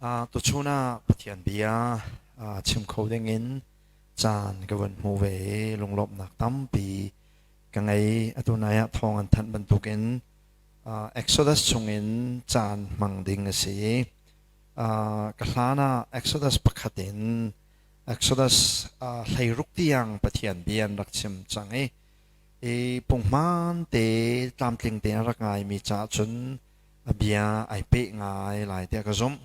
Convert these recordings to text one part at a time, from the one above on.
Tuchun ah Pathian bia chim kho dingin caan ka van hmu ve i lunglawmhnak tampi ka ngei. Atu nai ah thawng an thanh bantukin Exodus chungin caan hmang ding a si i ka hlan ah Exodus pakhat in Exodus hleiruk tiang Pathian bia an rak chim cang i pungman te tlamtling te an rak ngaimi caah cun a bia ai peh ngai lai tiah ka zumh.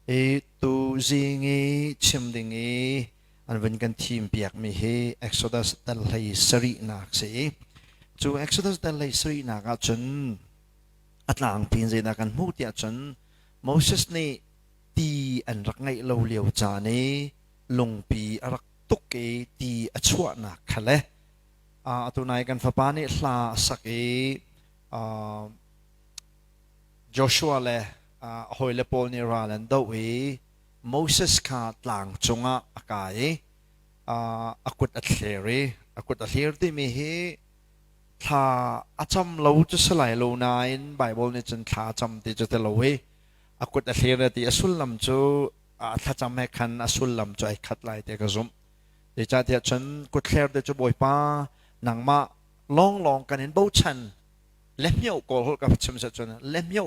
I tu zing i chim ding i an vun kan thim piakmi hi Exodus tel hlei sarihnak si i cu Exodus tel hlei sarihnak ah cun a tlangpi in zeidah kan hmuh tiah cun Moses nih ti an rak ngeih lo lio caan i lungpi a rak tuk i ti a chuahnak kha le atu nai kan fapa nih hla a sak i Joshua le a hawile pawl nih ral an doh i Moses kha tlang cungah a kai i a kut a thler i a kut a thlir timi hi thla a cam lo cu si lai lo nain Baibal nih cun thla a cam ti cu ti lo i a kut a thlir ti a sullam cu a thlacam he khan a sullam cu ai khat lai ti ka zumh zeicahtiah cun kutthler te cu bawipa nangmah lawnglawng kan in bochan le mio kawl hol ka chim set cun le mio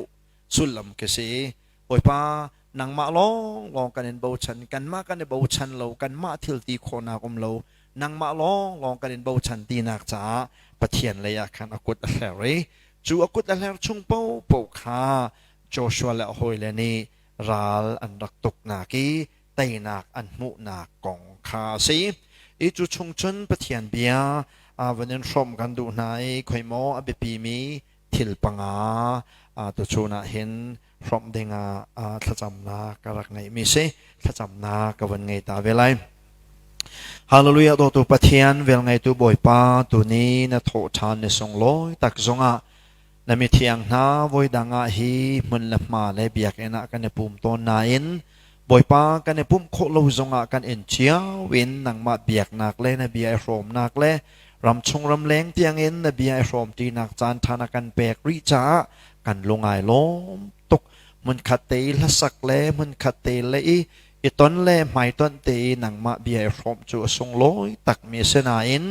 sullam ka si bawipa nangmah lawnglawng kan in bochan kanmah kan i bochan lo kanmah thil ti khawnak um lo nangmah lawnglawng kan in bochan tinak caah pathian lei ah khan a kut a hler i cu a kut a hler chung po po kha Joshua le a hawile nih ral an rak tuk nak i teinak an hmuhnak kong kha a si. I cu chung cun Pathian bia aa van in hrawm kan duh hna i khoi maw a biapimi thil panga aa tuchun ah hin hrawm ding ah thlacamnak ka rak ngeihmi si thlacamnak ka van ngei ta ve lai. Hallelujah dotu Pathian vel ngeitu Bawipa tuni na thawh ṭhan ni sung lawi tak zongah Na mithiang hna, voidang ah hi hmun le hma le biakinn ah kan i pum tawn nain Bawipa kan i pumh khawh lo zongah kan in cio in nangmah biaknak le na bia i hrawmnak le ram chung ram leng tiangin na bia i hrawmtinak caan ṭha na kan pek rih caah kan lungai lawm tuk. Hmunkhat te i hlasak le hmunkhat te le i I ton le hmaitonh te i nangmah bia i hrawm cu a sunglawi takmi a si nain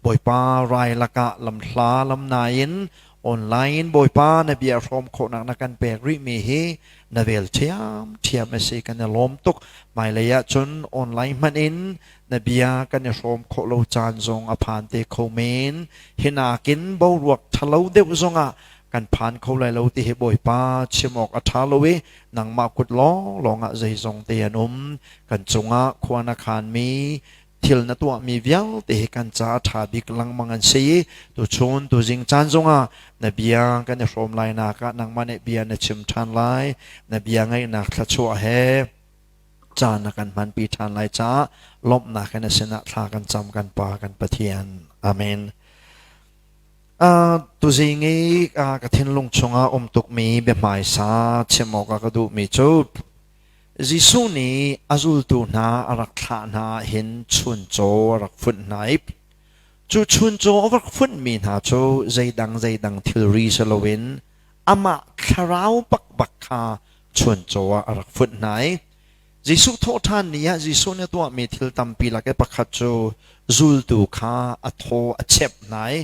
Bawipa rai lakah lamhla lam nain online in Bawipa na bia hrawm khawhnak na kan pek rihmi hi na vel ṭhiamṭhiam a si kan i lawm tuk. Hmailei ah cun online hmanh in na bia kan i hrawm khawh lo caan zong a phan te kho men. Hi nakin boruak ṭhalo deuh zongah kan phan kho lai lo ti hi Bawipa chim awk a ṭha lo i nangmah kut lawnglawng ah zeizongte an um, kan cungah khua na khanmi thil na tuahmi vialte hi kan caah ṭha bik lengmang an si. Tuchun tuzing caan zongah na bia kan i hrawm lainak ah nangmah nih bia na chim ṭhan lai. Na bia ngaihnak thluachuah he caan na kan hmanpi ṭhan lai caah lawmhnak in a sinah thla kan cam kan Pa kan Pathian. Amen. Tuzing i ka thinlung chungah um tukmi biahmaisa chim awkah ka duhmi cu Jesuh nih a zultu hna a rak thlah hna hin chuncaw a rak funh hna i cu chuncaw a rak funhmi hna cu zeidang zeidang thilri si loin amah thlarau bakbak kha chuncaw ah a rak funh hna i Jesuh thawhṭhan ni ah Jesuh nih a tuahmi thil tampi lak i pakhat cu zultu kha a thaw a chep hna i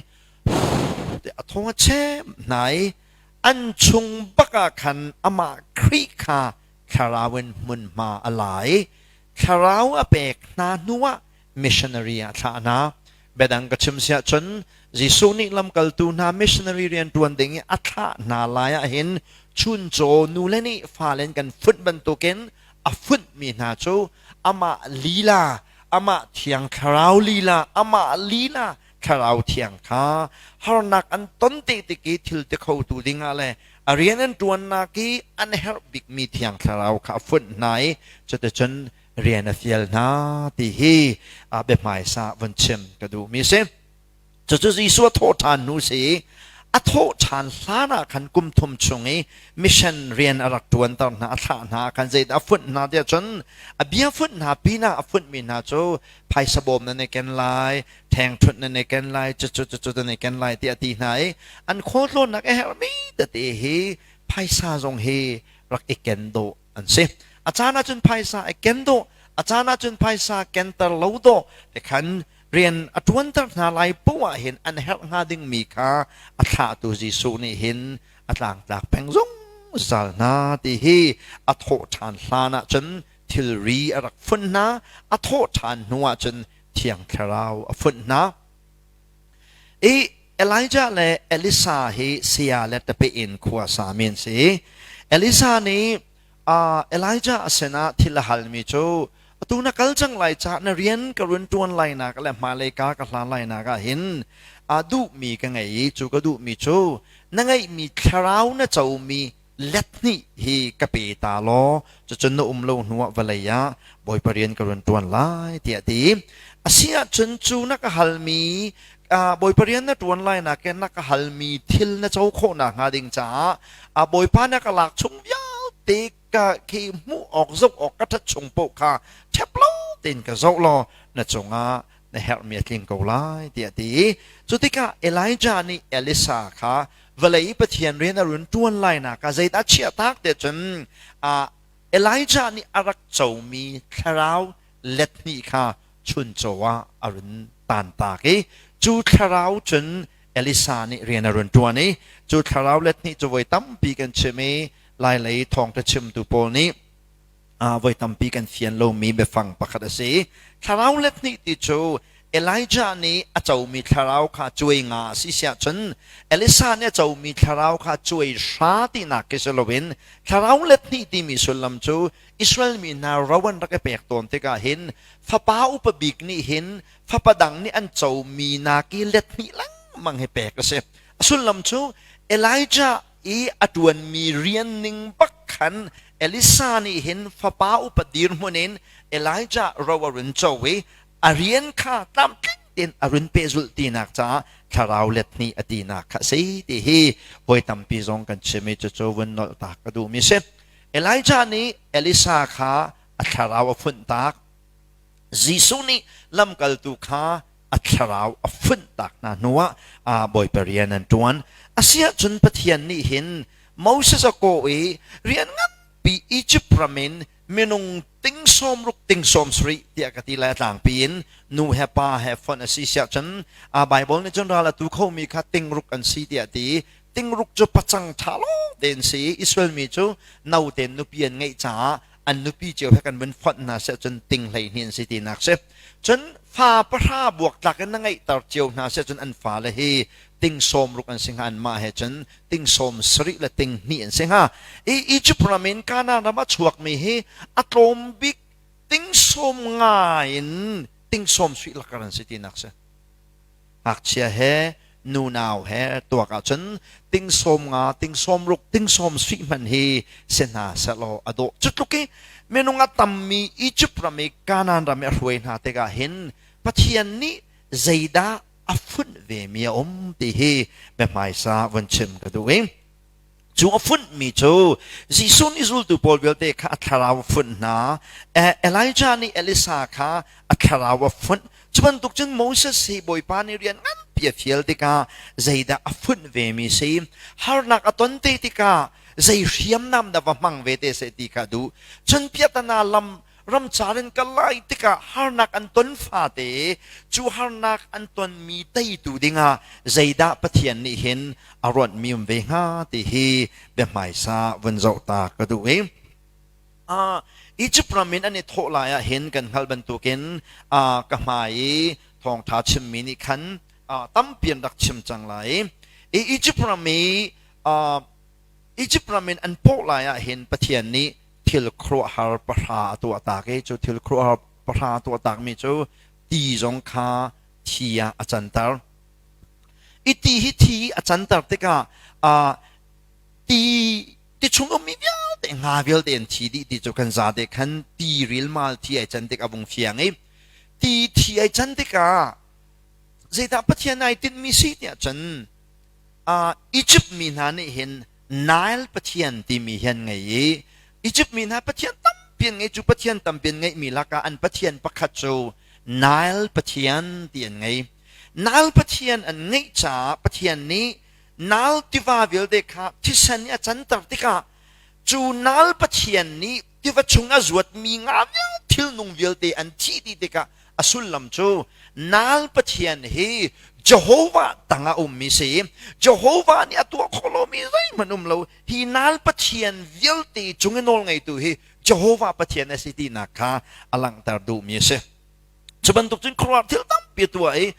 a thaw a chep hna i an chung bakah khan amah Khrih kha thlarau in hmunhma a la i thlarau a pek hna hnuah missionary ah thlahnak. Biadang ka chim si ahcun Jesuh nih lamkaltu hna missionary rian ṭuan ding i a thlah hna lai ahhin chuncaw nu le nih fale in kan funh bantukin a funhmi hna cu amah lila, amah thiang thlarau lila, amah lila thlarau thiang kha harnak an ton te tik i thil ti khotu dingah le a rian an ṭuannak i an herh bikmi thiang thlarau kha a funh hna i cuticun rian a fial hna ti hi a biahmaisa von chim ka duhmi si cucu Jesuh a thawh ṭhan hnu si a thawh ṭhan hlan ah khan kum thum chung i mission rian a rak ṭuanter hna a thlah hna khan zeidah a funh hna tiah cun a bia funh hna pinah a funtmi hna cu phaisa bawm nan i ken lai ṭhengṭhunh nan i ken lai cucu cucu nan i ken lai tiah a ti hna i an khualtlawnnak a herhmi tete hi phaisa zong hi rak i ken dawh an si a caan ahcun phaisa i ken dawh a caan ahcun phaisa kenter lo dawh ti khan rian a ṭuanter hna lai poah hin an herh hnga dingmi kha a thlahtu Jesuh nih hin a tlangtlak peng zungzal hna ti hi a thawh ṭhan hlan ahcun thilri a rak funh hna a thawh ṭhan hnu ahcun thiang thlarau a funh hna I Elijah le Elisa hi saya le tapeh in khua sa mi an si. Elisa nih uh, Elijah a sinah thil a halmi cu atu na kal cang lai cah na rian ka run ṭuan lainak le hmailei ka ka hlan lainak ah hin aa duhmi ka ngei i cu ka duhmi cu na ngeihmi thlarau na comi let hnih hi ka pe ta law cucun na um lo hnu ah vawlei ah Bawipa rian ka run ṭuan lai tiah ti a si ahcun cu na ka halmi Bawipa rian na ṭuan lai nakin na ka halmi thil na co khawh nakhnga ding caah a Bawipa na ka lak chung vialte ka khi hmuh awk zoh awk ka ṭhat chung paoh kha ṭhep lo tein ka zoh law na cungah na herhmi a tling ko lai tiah ti cu tikah Elijah nih Elisa kha vawlei i Pathian rian a run ṭuan lainak ah zeidah chiah tak tiah cun Elijah nih a rak comi thlarau lethnih kha chuncaw ah a run tantak i cu thlarau cun Elisa nih rian a run ṭuan i cu thlarau lethnih cu voi tampi kan chim i lailei thawngṭa chimtu pawl nih voi tampi kan fian lomi biafang pakhat a si. Thlarau let hnih ti cu Elijah nih a comi thlarau kha cuai nga a si siah cun Elisa nih a comi thlarau kha cuai hra tinak khi si loin thlarau let hnih timi sullam cu Israel mi hna ro an rak i pek tawn tikah hin fapa upa bik nih hin fapa dang nih an comi nak i let hnih lengmang hi pek a si. A sullam cu Elijah i a ṭuanmi rian ning bak khan Elisa nih hin fapa upa dirhmun in Elijah ro a run co i a rian kha tlamtling tein a run pehzulh tinak caah thlarau let hnih a tinak kha a si ti hi voi tampi zong kan chim i cucu vun nolhtak ka duhmi si Elijah nih Elisa kha a thlarau a funh tak Jesuh nih lamkaltu kha a thlarau a funhtak hna hnuah Bawipa rian an ṭuan. A si ahcun Pathian nih hin Moses a kawh i rian nganpi Izipt ram in minung ting sawm ruk ting sawm sarih tiah ka ti le a tlangpi in nu he pa he fonh a si si ahcun Baibal nih cun ral a tu khomi kha tingruk an si tiah a ti i tingruk cu pacang ṭha lawng tein si i Israel mi cu note nupi an ngeih caah an nupi cio he kan vun fonh hna seh cun ting hlei hni an si tinak si cun fa pahra buak tlak in na ngeihter cio hna seh cun an fa le hi ting sawm ruk an si hnga an mah he cun ting sawm sarih le ting hnih an si hnga i Egypt ram in Canaan ram a chuakmi hi a tlawm bik ting sawm ngai in ting sawm suih lakar an si tinak si ngakchia he nunau he tuak ahcun tingsawm nga tingsawm ruk tingsawm sui hman hi si hna selaw a dawh cu tluk i minung a tammi Egypt ram i Kanaan ram i a hruai hna tikah hin Pathian nih zeidah a funh vemi a um ti hi biahmaisa vun chim ka duh i Cu a funhmi cu Jesuh nih zultu pawl vialte kha a thlarau a funh hna. Elijah nih Elisa kha a thlarau a funh. Cu bantuk cun Moses hi Bawipa nih rian nganpi a fial tikah zeidah a funh vemi a si? Harnak a ton te tikah zei hriamnam dah va hmang ve te seh ti kha a duh. Cun piatana lam ramcar in kal lai tikah harnak an ton fate cu harnak an tonmi teitu dingah zeidah Pathian nih hin a ruatmi um ve hnga ti hi biahmaisa vun zoh ta ka duh i uh, Egypt ram in an i thawh lai ah hin kan hngalh bantukin uh, ka hmai i thawngtha chimmi nih khan uh, tampi an rak chim cang lai i Egypt ram i uh, Egypt ram in an poh lai ah hin Pathian nih thil khuaruahhar pahra a tuahtak i cu thil khuaruahhar pahra a tuahtakmi cu ti zong kha thi ah a canter. I ti hi thi a canter tikah uh, ti ti chung ummi vialte nga vialte an thi dih ti cu kan zate khan ti rilmal thi ai can tik a vung fiang i ti thi ai can tikah zeidah Pathian ai tinmi si tiah cun uh, Egypt mi hna nih hin Nile Pathian timi hi an ngei i Izipt mi hna Pathian tampi an ngei cu Pathian tampi an ngeihmi lakah an Pathian pakhat cu Nile Pathian ti an ngei. Nile Pathian an ngeih caah Pathian nih Nile tiva vialte kha thisen i a canter tikah cu Nile Pathian nih tiva chung a zuatmi nga vial thilnung vialte an thih dih tikah a sullam cu nal pathian hi Jehovah tang a ummi si Jehovah nih a tuah khawh lomi zeihmanh um lo hi nal pathian vialte cung i nawlngeitu hi Jehovah Pathian a si tinak kha a langhter duhmi a si cu bantuk cun khuaruah thil tampi a tuah i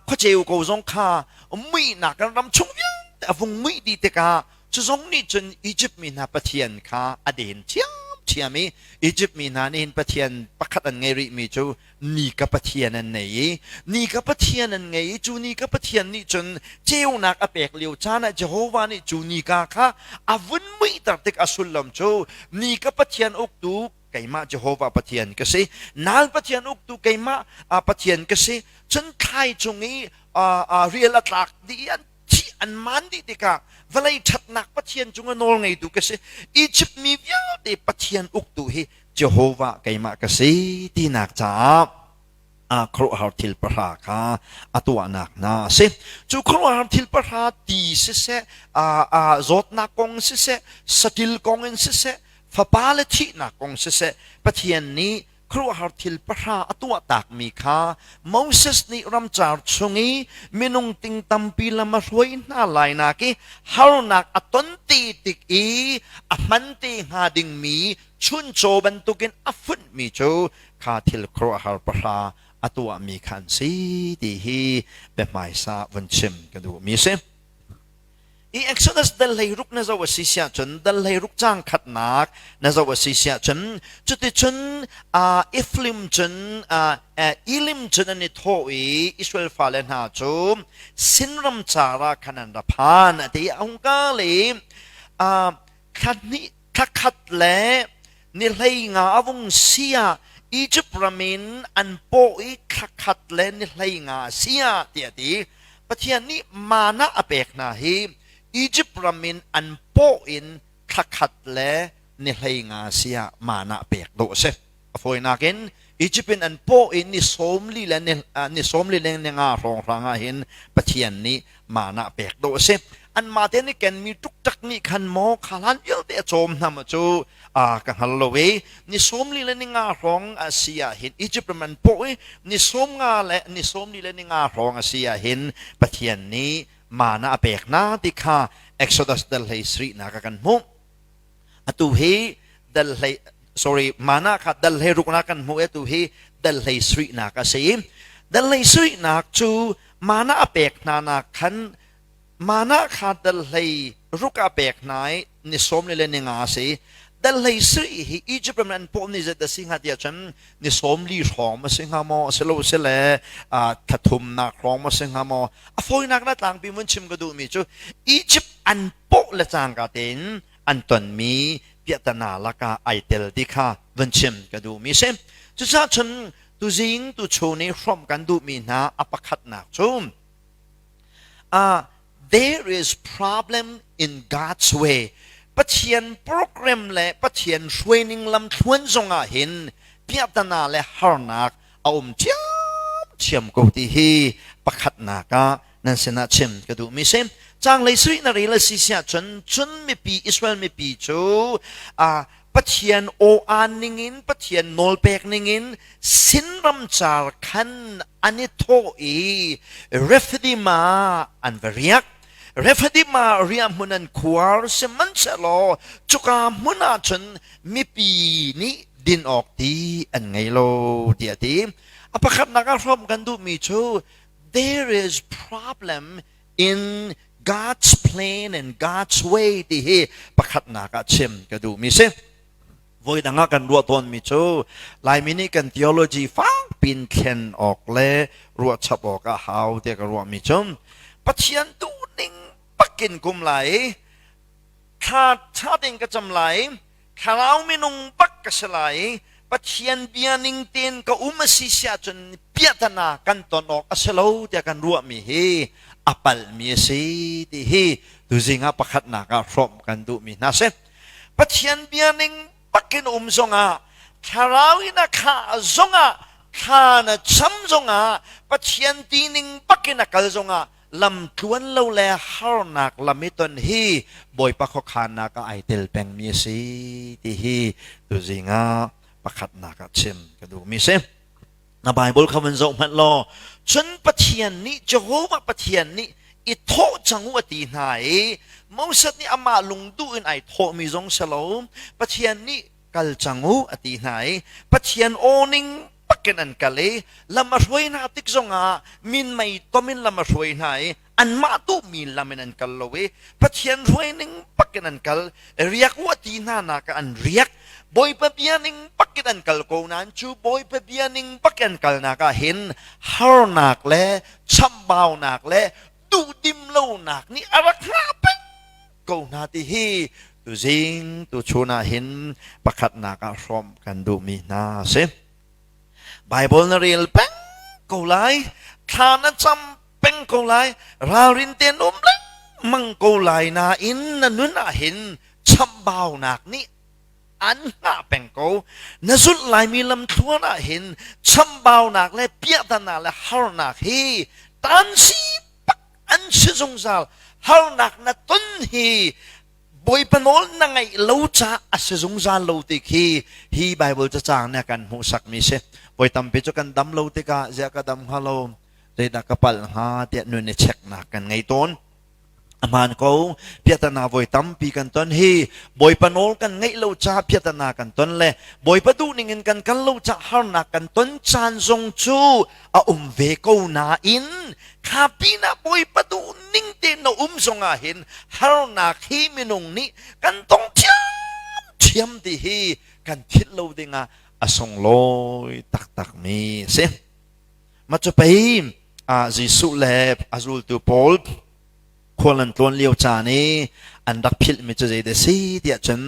khuaceu ko zong kha muihnak kan ram chung vialte a vung muih dih tikah cu zong nih cun Egypt mi hna pathian kha a den thiamthiam i Egypt mi hna nih hin pathian pakhat an ngei rih mi cu ni ka pathian an nei i ni ka pathian an ngei i cu ni ka pathian nih cun ceunak a pek lio caan ah Jehovah nih cu ni ka kha a vun muihter tik a sullam cu ni ka pathian uktu keimah Jehovah Pathian ka si. Nal Pathian uktu keimah Pathian ka si. Cun thlai cung i rial a tlak dih i an thih an maan dih tikah vawlei ṭhatnak Pathian cungah nawlngeitu ka si. Izipt mi vialte Pathian uktu hi Jehovah keimah ka si tinak caah ah khuaruahhar thil pahra kha a tuahnak hna a si. Cu khuaruahhar thil pahra ti siseh, zawtnak kong siseh, satil kong in siseh, fapa le thihnak kong siseh, Pathian nih khuaruahhar thil pahra a tuah takmi kha Moses nih ramcar chung i minung ting tampi lam a hruai hna lai nak i harnak a ton te tik i a hman te hnga dingmi chuncaw bantukin a funhmi cu kha thil khuaruahhar pahra a tuahmi kha an si ti hi biahmaisa vun chim ka duhmi si i exodus dal ruk na zo a si siah cun dal ruk cang khatnak na zo a si siah cun cuticun uh, iflim cun uh, uh, ilim cun an i thaw i israel fale hna cu sinram cara khan an ra phan a ti a hungka le uh, khat hnih thakhat le ni hleinga a vung si ah Egypt ram in an paw i thakhat le ni hleinga a si ah tiah ti Pathian nih mana a pek hna hi Egypt ram in an paw in thakhat le ni hleinga a si ah mana pek dawh a si A fawinak in Egypt in an paw i ni sawm li le ni sawm li le ni nga hrawng hrang ah hin Pathian nih mana pek do a si anmah te nih kenmi tuktak nih khan maw kha hlan vialte a cawm hnam cu a ka hngal lo i ni sawm li le ni nga hrawng a si ah hin Egypt ram an paw i ni sawm nga le ni sawm li le ni nga hrawng a si ah hin Pathian nih mana a pek na ti kha Exodus dal hlei sri na ka kan hmuh atu hi dal hlei sorry mana kha dal hlei ruknak kan hmu atu hi dal hlei suihnak a si dal hlei suihnak cu mana a pek hna nak khan mana kha dal hlei ruk a pek hna i ni som le le ni nga si dal hlei sui hi Egypt ram an puh ni zet a si hnga tia chan ni som li hrawm a si hnga maw a si lo si le thathumnak hrawm a si hnga maw a fawinak na tlangpi mun chim ka duh mi cu Egypt an pawh le cangka tein an tonmi piahtana lakah ai tel ti kha van chim ka duhmi si. Cucaah cun tuzing tuchu nih hrawmh kan duhmi hna a pakhatnak cu uh, there is problem in God's way Pathian program le Pathian hruaining lam thluan zongah hin piahtana le harnak a um thiam thiam ko ti hi pakhatnak ah nan sinah chim ka duhmi si canglei sarih na rel a si si ahcun cun mipi Israel mipi cu Pathian aw-aan ningin Pathian nawlpek ningin sin ramcar khan an i thawh i Refidima an va riak Refidima riah hmun an khuar sihmanhsehlaw cuka hmun ah cun mipi nih din awk ti an ngei lo tiah ti a pakhatnak ah hrom kan duhmi cu there is problem in God's plan and God's way ti hi pakhatnak ah chim ka duhmi si voi dang ah kan ruah tawnmi cu Laimi nih kan theology fakpin thlen awk le ruahchap awk a hau tiah ka ruahmi cu Pathian duhning pakin kum lai i thla tha ding ka cam lai Thlarau minung bak ka si lai i Pathian bia ning tein ka um a si si ahcun piahtana kan ton awk a si lo tiah kan ruahmi hi a palmi a si ti hi tuzing ah pakhatnak ah hrawm kan duhmi hna si. Pathian bia ning bakin um zongah thlarau in a khah zongah thla na cham zongah Pathian ti ning bakin a kal zongah lamtluan lo le harnak lam i ton hi Bawipa khuakhannak ah ai tel pengmi a si ti hi tuzing ah pakhatnak ah chim ka duhmi si. Na Bible kha van zoh hmanh law cun Pathian nih Jehovah Pathian nih i thawh cang u a ti hna i Moses nih amah lungduh in ai thawhmi zong si lo Pathian nih kal cang u a ti hna i Pathian awning Pakken an kal i lam a hruai hna tik zongah minmei tom in lam a hruai hna i anmah tuhmi lam in an kal lo i Pathian hruai ning pakin an kal, riak u ti hna nak ah an riak. Bawipa bia ning pakin an kal ko nain cu Bawipa bia ning pakin an kalnak ah hin harnak le chambaunak le duhdim lonak nih a rak hngah peng ko hna ti hi tuzing tuchun ah hin pakhatnak ah hrawm kan duhmi hna a si Bible na rel peng ko lai thla na cam peng ko lai ralrin ten um lengmang ko lai nain na nun ah hin chambaunak nih an hna peng ko na zulh laimi lamthluan ah hin chambaunak le piahtana le harnak hi tan si an si zungzal harnak na ton hi bawipa nawl na ngaih lo ca a si zungzal lo ti khi hi bible cacang ne kan hmuhsak mi si voi tampi cu kan dam lo tikah zia ka dam hnga lo zeidah ka pal hnga tiah nun i checknak kan ngei tawn aman ko piatana voi tampi kan ton hi bawipa nawl kan ngaih lo ca piatana kan ton le bawipa duh ning in kan kal lo ca harnak kan ton caan zong cu a um ve ko nain kha pinah Bawipa duh ning tein na um zongah hin harnak hi minung nih kan tong thiam ti hi kan thit lo dingah a sunglawi taktakmi si macu pei ah Jesuh le a zultu paul khual an tlawn lio caan i an rak philhmi cu zeidah si tiah cun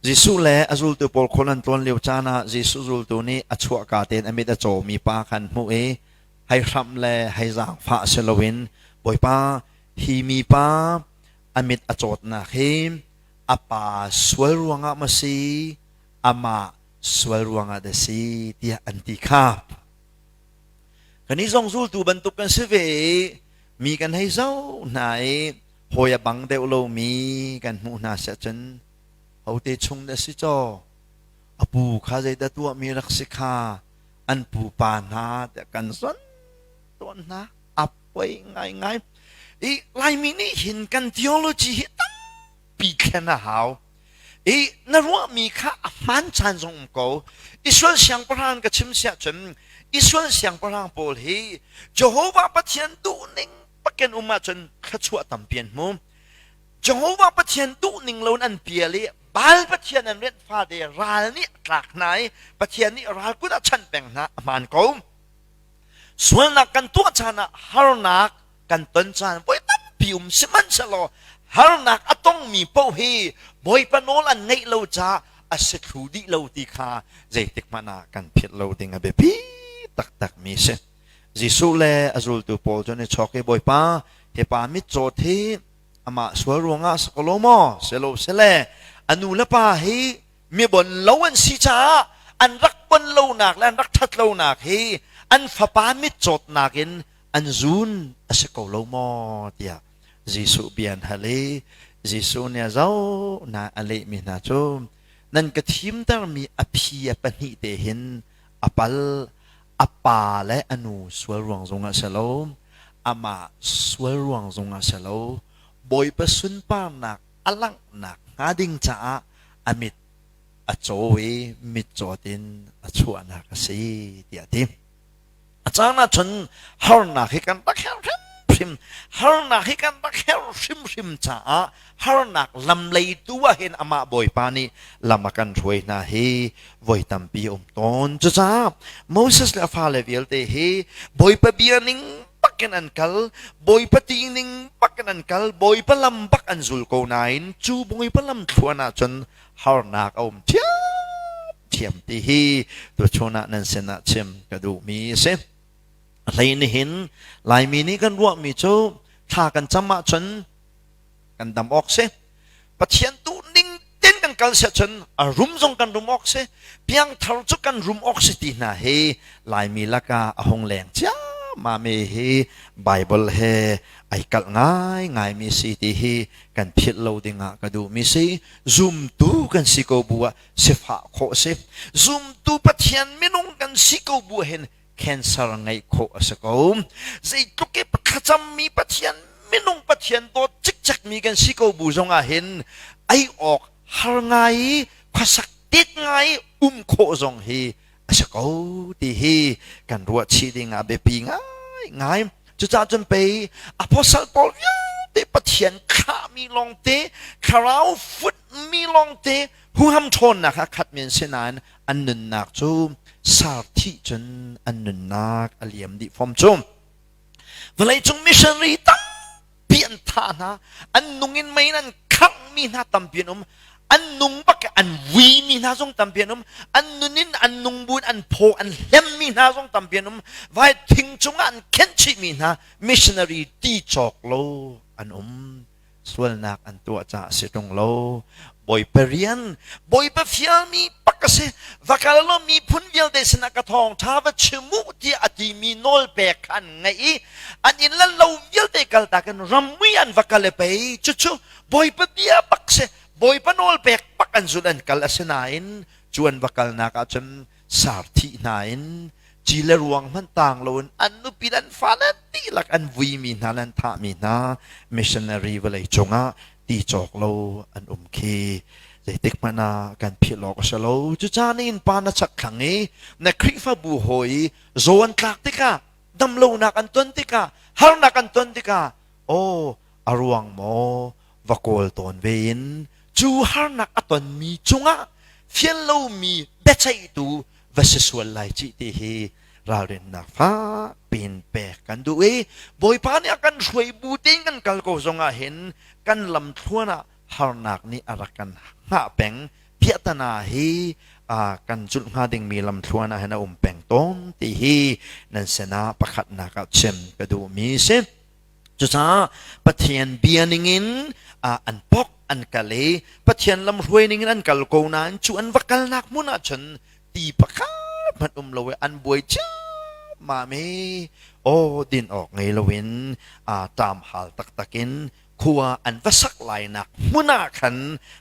Jesuh le a zultu pawl khual an tlawn lio caan ah Jesuh zultu nih a chuahka tein a mit a cawmi pa kha an hmuh i hei hram le hei zaangfah si loin Bawipa hi mipa a mit a cawtnak hi a pa sual ruangah maw si amah sual ruangah dah si tiah an ti kha Kannih zong zultu bantuk kan si ve i mi kan hei zoh hna i hawi a bang deuh lomi kan hmuh hna seh cun hote chung dah si caw a pu kha zeidah tuahmi rak si kha an pupa hna tiah kan zon tawn hna a poi ngaingai i Laimi nih hin kan theology hi tam pi thlen a hau i na ruahmi kha a hmaan chan zong um ko Israel siangpahrang ka chim siah cun Israel siangpahrang pawl hi Jehovah Pathian duhning pakin um ahcun thluachuah tampi an hmu Jehovah Pathian duhning loin an pial i Baal Pathian an rianh fate ral nih a tlak hna i Pathian nih ral kut a chanh peng hna a hmaan ko sualnak kan tuah chan ah harnak kan ton caan voi tampi um sihmanhsehlaw harnak a tongmi paoh hi bawipa nawl an ngeih lo caah a si thlu dih lo ti kha zeitik hmanh ah kan philh lo ding a biapi taktakmi si Jesuh le a zultu paul cu ni chawk i bawipa tepa mitcaw thi amah sual ruangah sakolo maw selo sele anu le pa hi mibon lo an si caah an rak bon lonak le an rak ṭhat lonak hi an fapa mitcawtnak in an zuun a si ko lo maw tiah Jesuh bia an hal i Jesuh nih a zoh na a lehmi hna cu nan ka thimtermi a phi a pahnih te hin a pal a pa le a nu sual ruang zung ah si lo amah sual ruang zung ah si lo Bawipa sunparnak a langhnak hnga ding caah a mit a caw i mit cawt in a chuahnak a si tiah a ti. A caan ahcun harnak hi kan rak herh hrimhrim. Harnak hi kan rak herh hrimhrim caah harnak lam lei tu ah hin amah Bawipa nih lam a kan hruai hna hi voi tampi um tawn. Cucaah Moses le a fale vialte hi Bawipa bia ning bakin an kal, Bawipa ti ning bakin an kal, Bawipa lam bak an zul ko nain cu Bawipa lam thluan ahcun harnak a um thiam thiam ti hi tuchun ah nan sin ah chim ka duhmi a si hlei nihin laimi nih kan ruahmi cu thla kan cam ah cun kan dam awk si pathian tu ning ten kan kal si cun a rum zong kan rum awk si piangthar cu kan rum awk si ti hna hi laimi laka a hong leng cia ma me hi bible he ai kalh ngai ngai mi si ti hi kan philh lo ding ah ka duh mi si zum tu kan si ko bu ah sifah khawh a si. Zumtu Pathian minung kan si ko bu hin cancer ngeih khawh a si ko. Zeitluk i thlacammi Pathian minung Pathian dawt cikcekmi kan si ko bu zongah hin ei awk har ngai khuasak tet ngai um khawh zong hi a si ko ti hi kan ruah chih ding ah biapi ngaingai cucaah cun pei apostle paul vialte pathian khahmi lawngte thlarau futmi lawngte huham ṭhawnnak kha khat men si nain an nunnak cu sar thih cun an nunnak a liam dih fom cu vawleicung missionary tam ti an thah hna an nung in mei in an khangh mi hna tampi an um an nung bak an vui mi hna zong tampi an um an nun in an nung buin an phaw an hlen mi hna zong tampi an um vai thing cungah an khenh chih mi hna missionary ti cawk lo an um sualnak an tuah caah si tung lo Bawipa rian, Bawipa fialmi pak a si. Va kal law miphun vialte sinah ka thawngṭha va chim u tiah a timi nawlpek kha an ngaih i an inn le lo vialte kaltak in rammui an va kal i pei cucu Bawipa bia pak si. Bawipa nawlpek pak an zulh an kal a si nain cu an va kalnak ahcun Sar thih hna in ci le ruang hmanh taang loin an nupi nan fa nan dihlak an vuimi hna nan thahmi hna missionary vawlei cungah ti cawk lo an um khi zeitik hmanh ah kan philh awk a si lo cucaan in pa na chakthlang i na khrihfabu hawi i zaw an tlak tikah damlonak an ton tikah harnak an ton tikah aw a ruang maw va kawl tawn ve in cu harnak a tonmi chungah fial lomi biaceihtu va si sual lai ci ti hi ralrinnak fak pin pek kan duh i bawipa nih a kan hruai bu tein kan kal ko zongah hin kan lam thluan ah harnak nih a rak kan hngah peng phiatana hi kan culh hnga dingmi lam thluan ah hin a um peng tawn ti hi nan sinah pakhatnak ah chim ka duhmi si Cucaah Pathian bia ningin an pok an kal i Pathian lamhruai ningin an kal ko nain cu an va kalnak hmun ah cun ti pakhat hmanh um lo i an buai ciammam i aw din awk ngei loin aa ṭam hal taktak in khua an va sak lainak hmun ah khan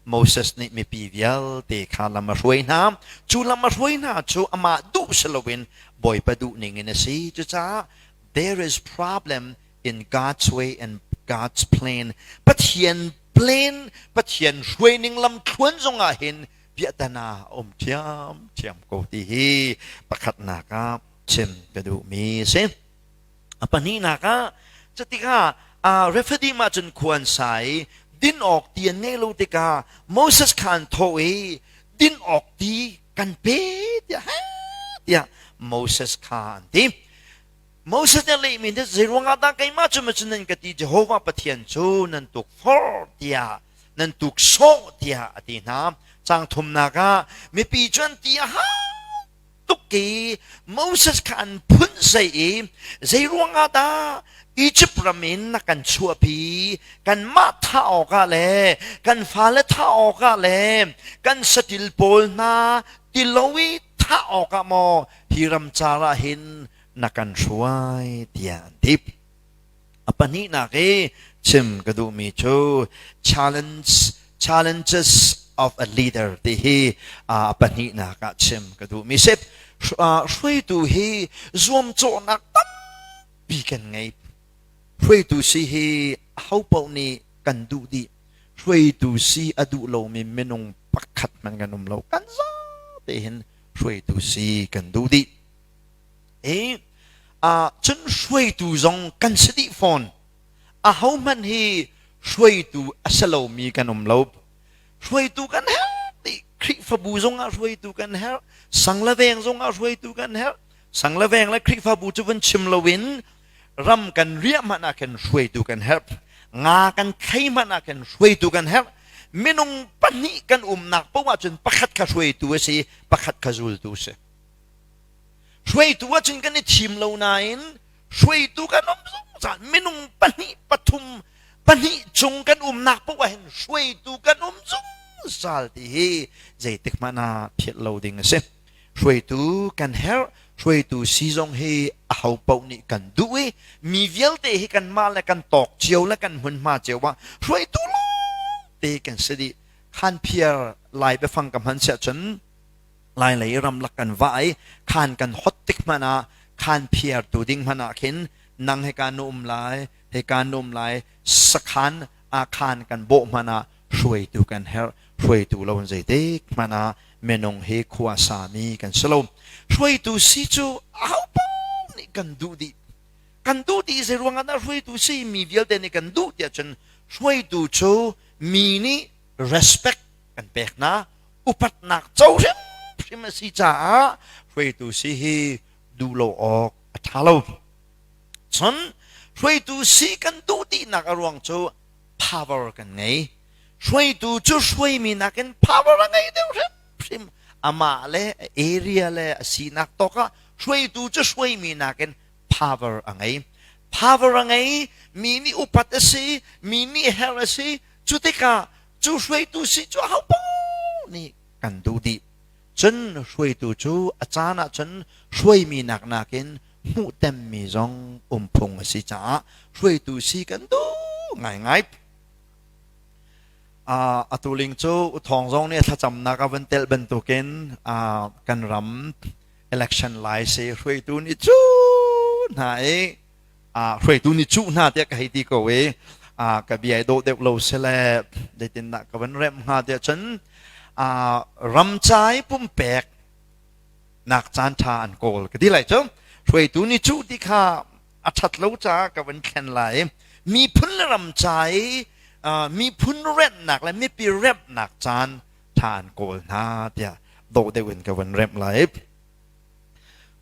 Moses nih mipi vialte kha lam a hruai hna cu lam a hruai hna cu amah duh si loin Bawipa duh ningin a si cucaah There is problem in God's way and God's plan. Pathian plan, Pathian hruaining lam thluan zong ah hin viatana um thiam thiam ko ti hi pakhatnak ah chim ka duh mi si. A pahnihnak ah cutikah uh, refadim ah cun khuan sai din awk ti an ngei lo tikah Moses khan tho i din awk ti kan pe tiah tiah Moses kha an ti Moses nih leh mi nih zeiruangah dah keimah cu macun nan ka ti Jehovah Pathian cu nan tuk for tiah nan tuk sawh tiah a ti hna cang thumnak ah mipi cu an ti a tuk i Moses kha an phun zei i zei ruangah dah Izipt ram in na kan chuahpi kanmah thah awkah le kan fale thah awkah le kan satil pawl hna tilo i thah awkah maw hi ram car ah hin na kan hruai tiah an tip a pahnihnak i chim ka duhmi cu challenge challenges of a leader ti hi a pahnihnak ah chim ka duhmi sip hruaitu hi zuamcawhnak tam pi kan ngei. Hruaitu si hi ho paoh nih kan duh dih. Hruaitu si a duh lomi minung pakhat hmanh kan um lo. Kan zate hin hruaitu si kan duh dih. E, uh, cun hruaitu zong kan si dih fawn. A ho hmanh hi hruaitu a si lomi kan um lo. Hruaitu kan herh ti Khrihfabu zong ah hruaitu kan herh. Sang la veng zong ah hruaitu kan herh. sang le veng le khrihfabu cu vun chim loin ram kan riah hmanh ah khin hruaitu kan herh nga kan thlei hmanh ah khin hruaitu kan herh minung pahnih kan umnak poh ah cun pakhat kha hruaitu a si pakhat kha zultu a si hruaitu ah cun kan i thim lo nain hruaitu kan um zungzal minung pahnih pathum pahnih chung kan umnak poh ah hin hruaitu kan um zungzal ti hi zeitik hmanh ah phiat lo ding a si Hruaitu kan herh, hruaitu si zong hi aho paoh nih kan duh i mi vialte hi kanmah le kan tawk cio le kan hmunhma cio ah hruaitu lawngte kan si dih. Khan phiar lai biafang ka hman siah cun lai lei ramlak kan va i khan kan hot tik hmanh ah khan phiar tu ding hmanh ah khin nang he ka nu um lai he ka nu um lai sakhan a khan kan bawh hmanh ah hruaitu kan herh. Hruaitu lo in zeitik hmanh ah minung hi khua sami kan si lo. Hruaitu si cu ahopaoh nih kan duh dih. Kan duh dih zei ruangah dah hruaitu si mi vialte nih kan duh tiah cun hruaitu cu mi nih respect kan pek hna. Upatnak co hrimhrim a si caah hruaitu si hi duh lo awk a ṭha lo. Cun hruaitu si kan duh dihnak a ruang cu power kan ngei. Hruaitu cu hruaimi nakin power a ngei deuh hrimhrim. Amah le area le a sinak tok ah hruaitu cu hruaimi nakin power a ngei. Power a ngei mi nih upat a si, mi nih her a si. Cu tikah cu hruaitu si cu ahopaoh nih kan duh dih. Cun hruaitu cu a caan ah cun hruaimi nak nakin hmuhtemmi zong um phung a si caah hruaitu si kan duh ngaingai. Uh, atu ling cu thawng zong nih thlacamnak a van tel bantukin uh, kan ram election lai se hruaitu nih cu hna i hruaitu nih cuh hna tiah ka hei ti ko i ka bia i dawh deuh lo si le zeitindah ka van remh hnga tiah cun ramcai pumpek nak caan ṭha an kawl ka ti lai cu hruaitu nih cuh ti kha a ṭhat lo caah ka van thlen lai miphun le ramcai miphun remnak le mipi remnak caan ṭha an kawl hna tiah dawh deuh in ka van remh lai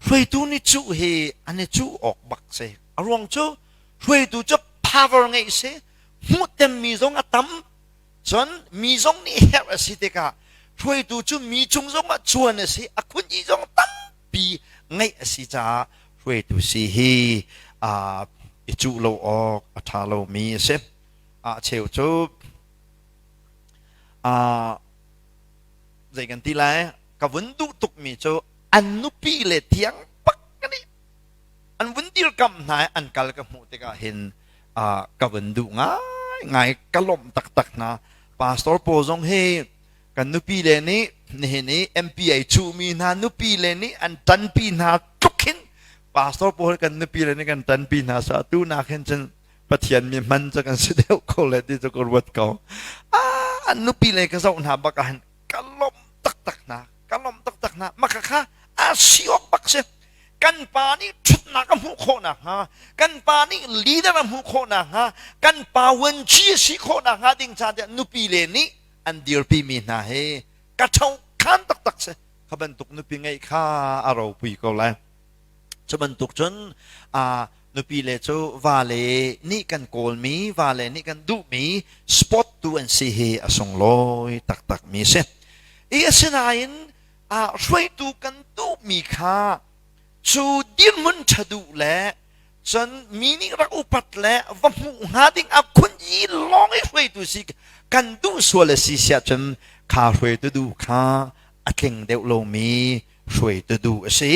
Hruaitu nih cuh hi an i cuh awk bak si. A ruang cu hruaitu cu power ngeih si, hmuhtemmi zong a tam. Cun mi zong nih herh a si tikah hruaitu cu mi cung zong ah chuan a si, a khunji zong tampi ngeih a si caah hruaitu si hi aa i cuh lo awk a ṭha lomi a si. Ah cheu cu aa zei kan ti lai ka vun duh tukmi cu an nupi le thiang pak ka nih an vun dirkamh hna i an kal ka hmuh tikah hin uh, ka vun duh ngaingai ka lawmh taktak hna pastor paul zong hi kan nupi le nih nihin i MP ai chuhmi hna nupi le nih an tanpi hna tluk hin pastor paul kan nupi le nih kan tanpi hna sa tu nak hin cun pathian mi man cu kan si deuh ko le ti cu ka ruat ko a nupi le ka zoh hna bak ah hin ka lawm taktak hna ka lawm taktak hna maka kha asi awk bak si kan pa nih ṭhatnak a hmuh khawh nakhnga kan pa nih leader a hmuh khawh nakhnga kan pa vuanci a si khawh nakhnga ding ca tiah nupi le nih an dirpimi hna hi ka tho khan taktak si kha bantuk nupi ngeih kha a ropui ko lai cu bantuk cun Nupile cu vale nih kan kawlmi, vale nih kan duhmi sport tu an si hi a sunglawi taktakmi a si. I asinain ah hruaitu kan duhmi kha cu dirhmun ṭha duh le cun mi nih rak upat le va hmuh hnga ding a khun i lawng i hruaitu si kan duh sual a si si ahcun kha hruaitu du kha a tling deuh lomi hruaitu du a si.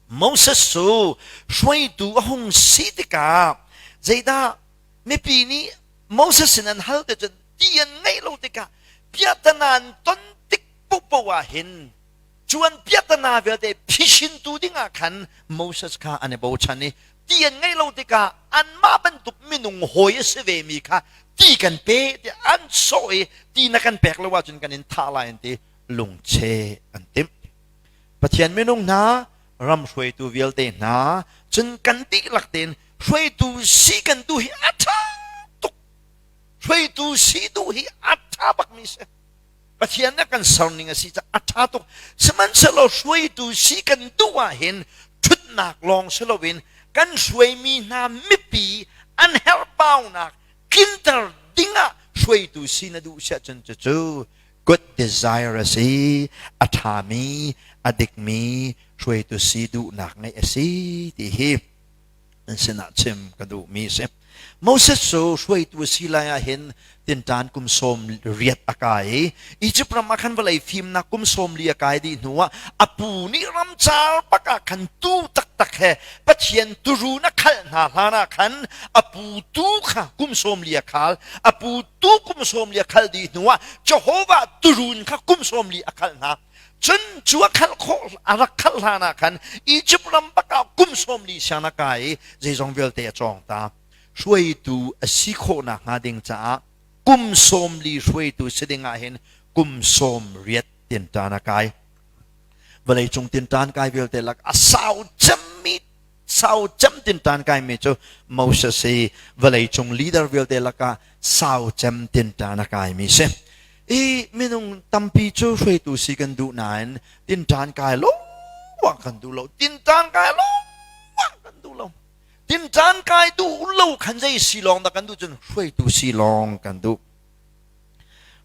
Moses cu hruaitu a hung si tikah zeidah mipi nih Moses sin an hal te cun ti an ngeih lo tikah piahtana an ton tik pohpoh ah hin cu an piahtana vialte phishintu dingah khan Moses kha an i bochan i ti an ngeih lo tikah anmah bantuk minung hawi a si vemi kha ti kan pe tiah an sawh i ti na kan pek lo ahcun kan in thah lai an ti lungcheh an timh Pathian minung hna, ram hruaitu vialte hna, cun kan dihlak tein hruaitu si kan duh hi a ṭha tuk. Hruaitu si duh hi a ṭha bakmi si. Pathian na kan serning a si caah a ṭha tuk. Sihmanhsehlaw hruaitu si kan duh ahhin ṭhutnak lawng si loin kan hruaimi hna mipi an herhbaunak tlinter dingah hruaitu si na duh si ahcun cucu Good desire a si, a ṭhami, a dikmi, hruaitu si duhnak ngeih a si ti hi an sinah chim ka duhmi a si. Moses cu hruaitu a si lai ah hin tinṭan kum sawm riat a kai i Egypt ram ah khan vawlei fimnak kum sawm li a kai dih hnu ah a pu nih ram caal bak ah khan tuu taktak he Pathian turu na khalh hna hlan ah khan a pu tuu kha kum sawm li a khal a pu tu kum sawm li a khal dih hnu ah Jehovah turun kha kum sawm li a khal hna cun cu a khalh khawh a rak khalh hlan ah khan Egypt ram bak ah kum sawm li siang a kai i zeizong vialte a cawng ta hruaitu a si khawhnak hnga ding caah kum sawm li hruaitu si ding ah hin kum sawm riat tintan a kai vawleicung tintan kai vialte lak a sau cemmi sau cem tintan kaimi cu Moses i vawleicung leader vialte lakah sau cem tintan a kaimi si i minung tampi cu hruaitu si kan duh nain tintan kai lo wang kan duh lo tintan kai lo wang kan duh lo tintan kai duh lo khan zei si lawng dah kan duh cun hruaitu si lawng kan duh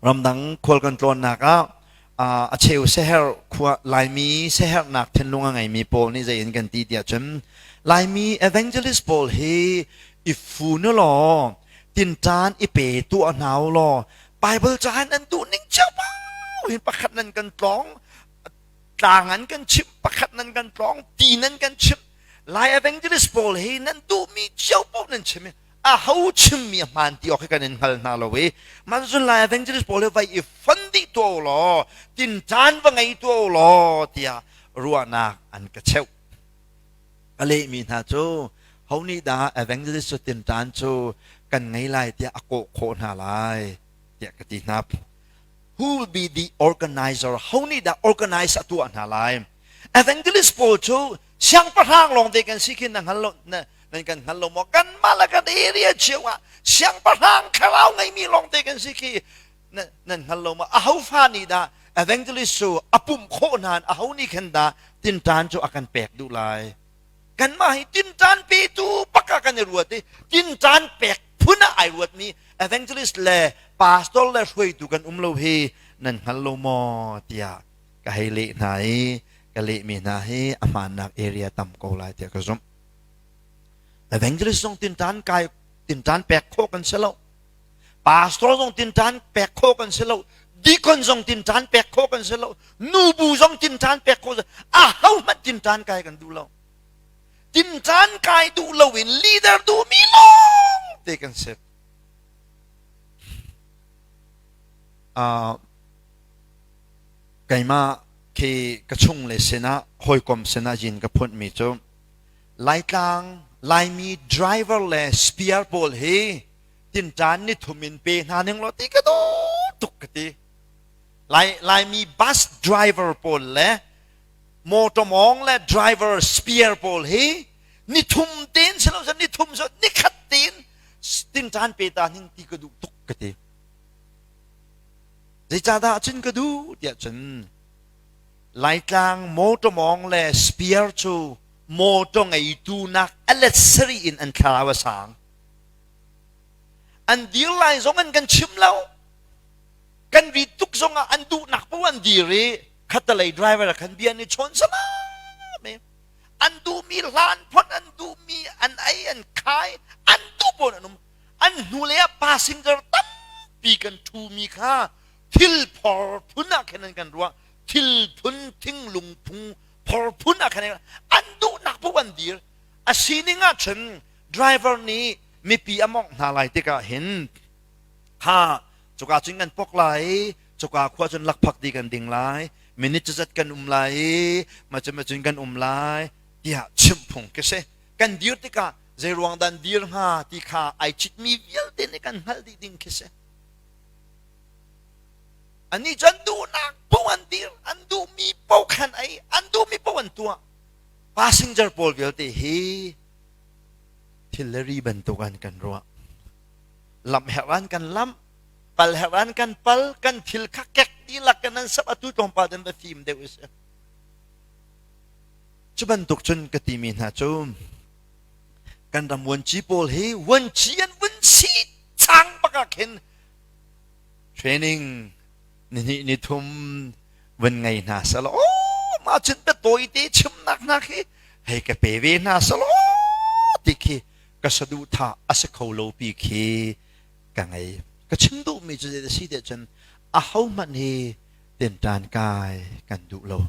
Ramdang khual kan tlawnnak ah a cheu siaherh khua Laimi siaherhnak thinlung a ngeimi pawl nih zei in kan ti tiah cun Laimi evangelist pawl hi i fu nu law tinṭan i pe tuah hna u law Baibal ca in an duh ning cio in pakhat nan kan tlawng tlang an kan chimh pakhat nan kan tlawng ti nan kan chimh Lai evangelist pawl hi nan duhmi cio paoh nan chim i aho chimmi a hmaan ti awk hi kan in hngal hna lo i manzun lai evangelist pawl hi vai i fon dih tuah law tin caan va ngei tuah law tiah ruahnak an ka cheuh a lehmi hna cu ho nih dah evangelist cu tin caan cu kan ngei lai tiah a kawh khawh hna lai tiah ka ti hna who will be the organizer ho nih dah organize a tuah hna lai evangelist pawl cu siangpahrang lawng te kan si khi na hngal lo nan kan hngal lo maw kanmah le kan area cio ah siangpahrang thlarau ngeimi lawng te kan si khi nan hngal lo maw ahofa nih dah evangelist cu a pumh khawh nan aho nih khan dah tintan cu a kan pek duh lai kanmah hi tintan petu baka kan i ruat i tintan pek phun ah ai ruatmi evangelist le pastor le hruaitu kan um lo hi nan hngal lo maw tiah ka hei leh hna i ka lehmi hna hi a hmaannak area tam ko lai tiah ka zumh. Evangelist zong tintaan kai tintaan pek khawh kan si lo. Pastor zong tintaan pek khawh kan si lo. Deacon zong tintaan pek khawh kan si lo. Nubu zong tintaan pek khawh si A ho hmanh tintaan kai kan duh lo. Tintaan kai duh lo in leader duhmi lawng te kan si. Uh, Keimah khi ka chungle sinah hawikom sinah yin ka phunhmi cu Laitlang Laimi driver le spare pawl hi tinṭan nithum in pe hna ning law ti ka dawt tuk ka ti. Lai, Laimi bus driver pawl le mawṭawmawng le driver spare pawl hi nithum tein si lo sih nithum sih nikhat tein tinṭan pe ta ning ti ka duh tuk ka ti. Zeicahdah cun ka duh tiah cun Laitlang motor mawng le spear cu motor ngeitu nak aletsari in an thlarau a sang. An dir lai zong an kan chim lo. Kan ri tuk zong ah an duhnak po an dir i khatalei driver khan bia ni chawn salam an duhmi hlan phot an duhmi an ei an khai an duh pon an um an hnulei ah pa singar tampi kan ṭhumi kha thil phor phun ah khan an kan ruah thil phun thinglung phung phor phun ah khan an duhnak puk an dir a sining ah cun driver nih mipi a mawngh hna lai tikah hin ha cuka cun kan pok lai cuka khua cun lakphak di kan ding lai minute cu zat kan um lai i macam macun kan um lai tiah chimh phung ka si kan dir tikah Zeiruang dan dir hnga ti kha ai citmi vialte nih kan hngalh dih ding khi si. Anih cun duhnak bu an dir, an duhmi paoh khan ai, an duhmi paoh an tuah. Passenger pawl vialte hi thilleri bantuk an kan ruah. Lam herh an kan lam, pal herh an kan pal, kan thil kha kek dilak kan an sap atu tlawmpal den va fim deuh is. Cu bantuk cun ka timi hna cu kan ram vuanci pawl hi vuanci an vun si chang bakak hin training nihnih nithum vun ngei hna selaw mah cun ka tawi te chimnak hna khi hei ka pe ve hna selaw ti khi ka saduhthah a si kho lo pi khi ka ngei ka chim duhmi cu zei a si te cun a ho hmanh hi tinṭan kai kan duh lo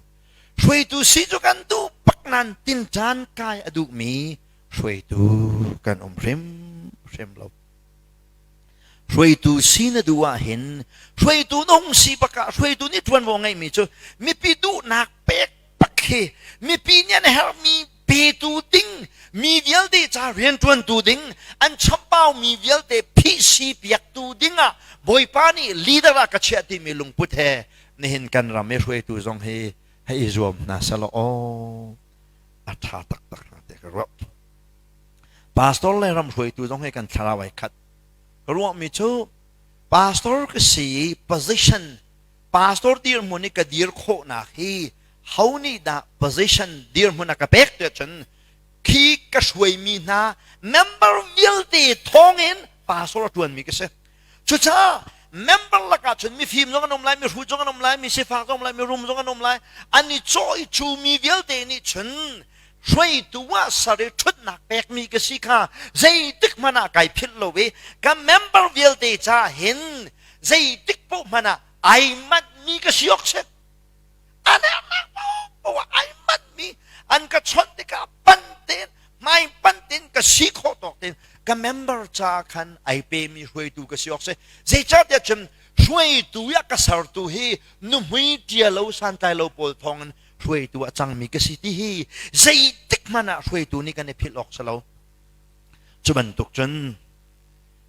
Hruaitu si cu kan duh pak nain tinṭan kai a duhmi hruaitu kan um hrimhrim lo. Hruaitu si na duh ahhin hruaitu na hung si bak ah hruaitu nih ṭuanvo ngeihmi cu mipi duhnak pek tak hi mipi nih an herhmi petu ding mi vialte ca riantuantu ding an chappau mi vialte phihsi piaktu dingah bawipa nih leader ah ka chiah timi lungput he nihin kan ram i hruaitu zong hi hei i zuam hna selaw aw a tha taktak hna te ka ruah pastor le ram hruaitu zong hi kan thlarau ai khat ruah mi cu pastor ka si position pastor dirhmun i ka dir khawhnak hi ho nih dah position dirhmun a ka pek tiah cun khi ka hruaimi hna member vialte thawngin pastor a ṭuanmi ka si cucaah member lakah cun mifim zong an um lai mihru zong an um lai misifak zong um lai mirum zong an um lai an i cawh i cumi vialte nih cun hruaitu ah sar i ṭhutnak pekmi ka si kha zeitik hmanh ah kai philh lo i ka member vialte ca hin zeitik poh hmanh ah ai manhmi ka si awk si a nernak poh ah ai manhmi an ka chawnh tikah pan tein hmai pan tein ka si khawh tawk tein ka member caah khan ai pemi hruaitu ka si awk si zeicahtiah cun hruaitu ah ka sertu hi nuhmui tia lo santlai lo pawl thawngin hruaitu ah cangmi ka si ti hi zeitik hmanh ah hruaitu nih kan i philh awk si lo cu bantuk cun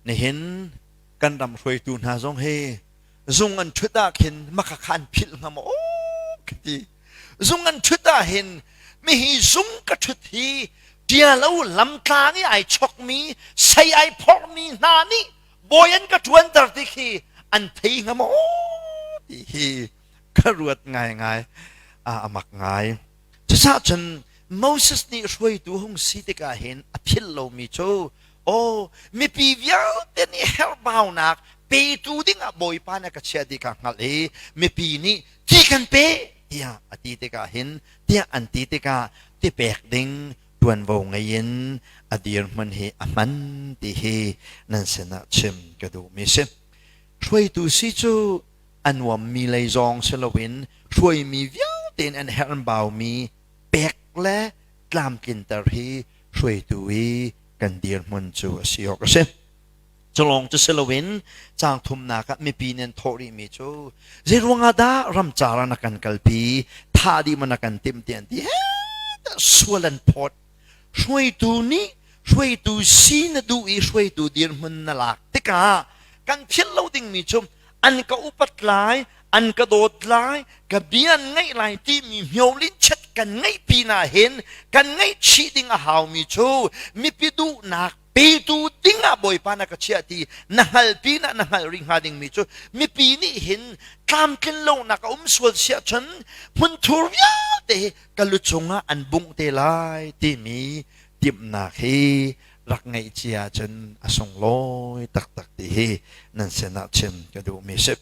nihin kan ram hruaitu hna zong hi zung an ṭhut ah khin maka khan philh ngam aw ka ti zung an ṭhut ah hin mihi zung ka ṭhut hi tia lo lamtlang i ai chokmi sei ai phormi hna nih bawi an ka ṭuanter ti khi an thei ngam aw ti hi ka ruat ngai ngai a amak ngai Cucaah cun Moses nih hruaitu hung si tikah hin a philh lomi cu aw mipi vialte nih herhbaunak petu dingah Bawipa nih a ka chiah ti kha hngalh i mipi nih ti kan pe tiah a ti tikah hin tiah an ti tikah tipek ding ṭuanvo ngei in a dirhmun hi a hman ti hi nan sinah chim ka duhmi si. Hruaitu si cu a nuammi lei zong si loin hruaimi vialte nih an herhbaumi pek le tlamtlinter hi hruaitu i kan dirhmun cu a si awk a si. Culawng cu si loin cang thumnak ah mipi nih an thawh rihmi cu zei ruangah dah ramcar ah na kan kalpi, tha dih ma na kan timh ti an ti sual an phawt Hruaitu nih hruaitu si na duh i hruaitu dirhmun na lak tikah kan thial lo dingmi cu an ka upat lai an ka dawt lai ka bia an ngaih lai timi miohlin chet kan ngeih pin ah hin kan ngaih chih ding a haumi cu mipi duhnak petu dingah bawipa na ka chiah ti na hngal pinah na hngalh rih hnga dingmi cu mipi nih hin tlamtlin lonak a um sual siah cun hmunthur vialte ka lu cungah an bungh te lai timi timhnak hi rak ngeih cia cun a sunglawi taktak ti hi nan sinah chim ka duhmi si.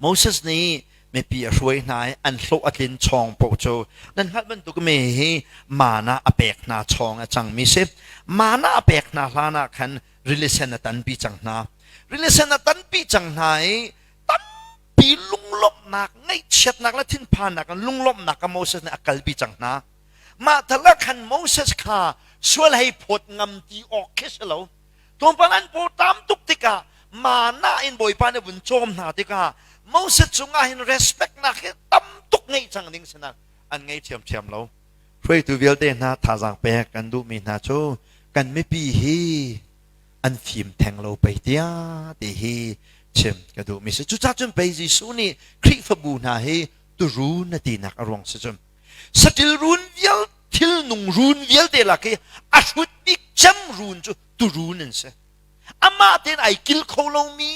Moses nih mipi a hruai hna i an hlawh a tlin chawng paoh cu nan hngalh bantuk mi hi mana a pek hna chawng a cangmi si. Mana a pek hna hlan ah khan rilisen a tanpi cang hna. Rilisen a tanpi cang hna i tampi lunglawmhnak, ngaihchiatnak le thinphannak in lunglawmhnak kha Moses nih a kalpi cang hna. Mah tal ah khan Moses kha sual hei phawt ngam ti awk khi si lo, Tupan an pur tam tuk tikah mana in Bawipa nih a vun cawm hna tikah Moses cungah hin respect nak hi tam tuk ngei cang ding sinak an ngei ṭhiamṭhiam lo. Hruaitu vialte hna thazaang pek kan duhmi hna cu kan mipi hi an fim theng lo pei tiah ti hi chim ka duhmi si. Cucahcun pei Jesuh nih Khrihfabu hna hi turu na tinak a ruang si cun saṭil run vial thil nung run vialte lak i a hrut bik cem run cu tu run an si amah tein ai kil kho lomi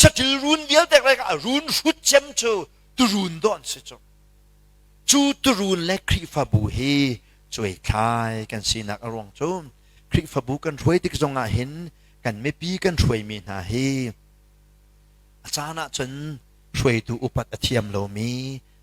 saṭil run vialte lak a run hrut cem cu tu run don si cu cu turun le khrihfabu hi cuai thlai kan sinak a ruang cu khrihfabu kan hruai tik zong ah hin kan mipi kan hruaimi hna hi a caan ah cun hruaitu upat a thiam lomi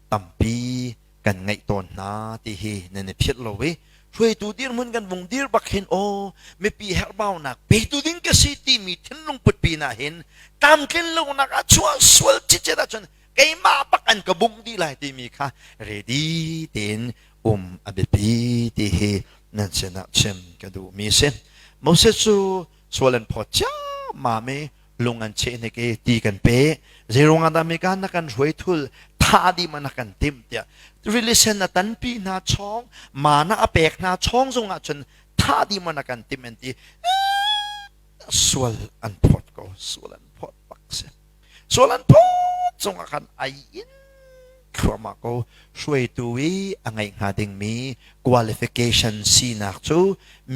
tampi kan ngeih tawn hna ti hi nan i philh lo i hruaitu dirhmun kan vung dir bak hin aw mipi herhbaunak petu ding ka si timi thinlung put pinah hin tlamtlin lonak a chuah sual cicet ahcun keimah bak an ka bung dih lai timi kha ready tein um a biapi ti hi nan sinah chim ka duhmi si Moses cu sual an phawt ciammam i lung an cheh hnik i ti kan pe zeiruang ah dah mika na kan hruai thul tha dih ma na kan tim tiah rili sen a tanpi hna chong mana a pek hna chong zong ah cun tha dih ma na kan tim an ti sual an phot ko sual an phot bak se sual an phot zong ah khan ai in thluama ko hruaitu i a ngai hnga dingmi qualification sinak cu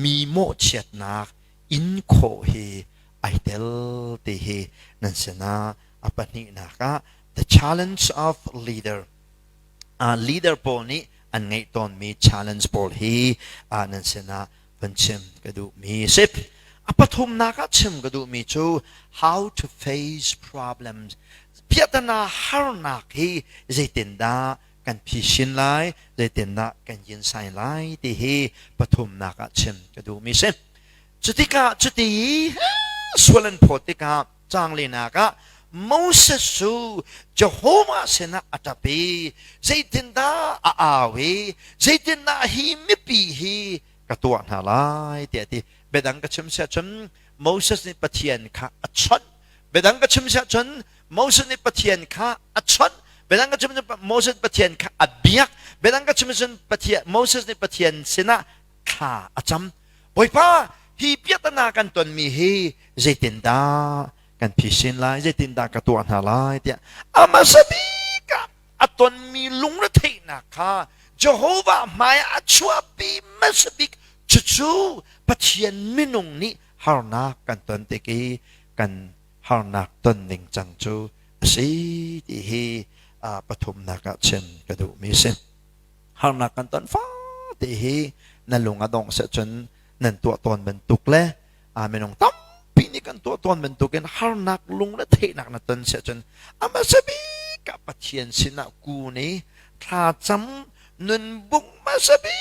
mi mawhchiatnak in khawh hi ai tel ti hi nan sinah a pahnihnak ah the challenge of leader uh, leader pawl nih an ngeih tawnmi challenge pawl hi uh, nan sinah van chim ka duhmi sip a pathumnak ah chim ka duhmi cu how to face problems piatana harnak hi zeitindah kan phi shin lai, zeitindah kan yin sai lai ti hi pathumnak ah chim ka duhmi si. Cutikah cuti sual an phawt tikah canglenak ah Moses cu Jehovah sinah a ṭap i zeitindah a au i zeitindah hi mipi hi ka tuah hna lai tiah ti biadang ka chim siah cun Moses nih Pathian kha a chawnh Biadang ka chim siah cun Moses nih Pathian kha a chawnh biadang ka chim cun Moses Pathian kha a biak biadang ka chim cun Pathian Moses nih Pathian sinah thla a cam Bawipa hi piahtana kan tonmi hi zeitindah kan phisin lai zeitindah ka tuah hna lai tiah a hmasa bik ah a tonmi lungretheihnak kha Jehovah hmai a chuahpi hmasa bik cucu Pathian minung nih harnak kan ton tik i kan harnak ton ning cang cu a si ti hi pathumnak ah chim ka duhmi si. Harnak kan ton fa ti hi na lung a dong se cun nan tuah tawn bantuk le a minung tampi nih kan tuah tawn bantukin harnak lung le theihnak na ton se cun ama sabi ka pathian sinah ku ni thlacam nun bung ma sabi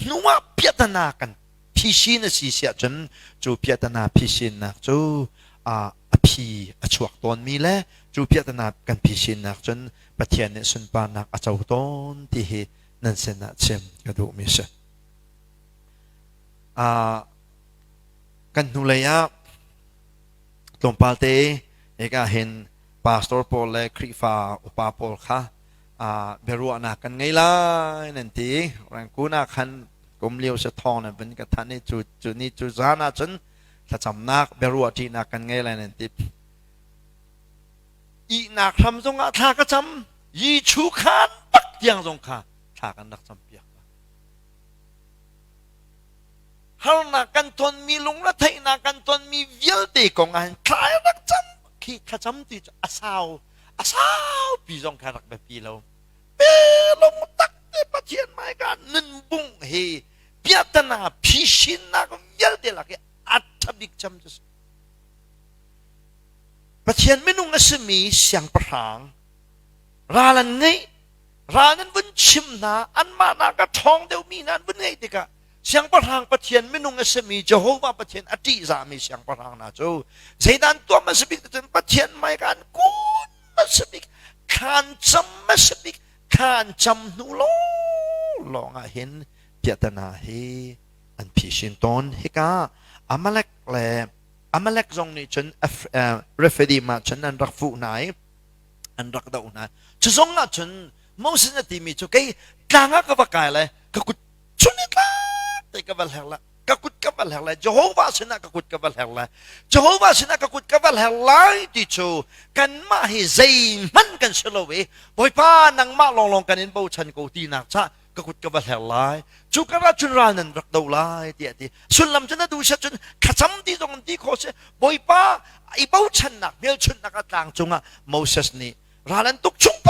hnuah piatana kan Phisin a si siahcun cu piahtana phisinnak cu a phi a chuak tawnmi le cu piahtana kan phisinnak cun Pathian nih sunparnak a co tawn ti hi nan sinah chim ka duhmi a si. kan hnulei ah tlawmpalte ek ah hin pastor paul le khrihfa upa paul kha biaruahnak kan ngei lai nan ti rangkun ah khan kum lio se thawng nan van ka than i cu cu ni cu zan ah cun thlacamnak biaruah ṭihnak kan ngei lai nan ti ihnak hram zong ah thla ka cam Yichu khan tak tiang zong kha thla kan rak cam piak harnak kan tonmi lungre theihnak kan tonmi vialte kong ah thlai rak cam khi thlacam ti a sau a saupi zong kha rak biapi lo pelong tak te pathian mai ka nunbung he piatana phishinnak vialte lak i athabik cham cu pathian minung a simi siangpahrang ral an ngei ral nan vun chim hna anmah na ka ṭhawng deuhmi hna an vun ngei tikah Siangpahrang Pathian minung a simi Jehovah Pathian a ṭihzahmi siangpahrang hna cu zeidan tuam a si bik cun Pathian hmaiah khan kun a si bik thlan cam a si bik thlan cam hnu lawng ah hin piahta hna hi an phishin tawn hika Amalek le Amalek zong nih cun Refidim ah cun an rak fuh hna i an rak doh hna cu zong ah cun Moses na timi cu kei tlang ah ka va kai le ka kut chunitlate ka va hleng le ka kut ka va hleng le Jehovah sinah ka kut ka va hleng le Jehovah sinah ka kut ka va hleng lai ti cu kanmah hi zeihmanh kan si lo i Bawipa nangmah lawnglawng kan in bochan ko tinak cah ka kut ka va hleng lai cu karah cun ral nan rak do lai tiah ti sullam cu na duhset cun thlacam ti zong an ti kho si Bawipa i bochannak hmelchunhnak a tlang cungah Moses nih ral an tuk chung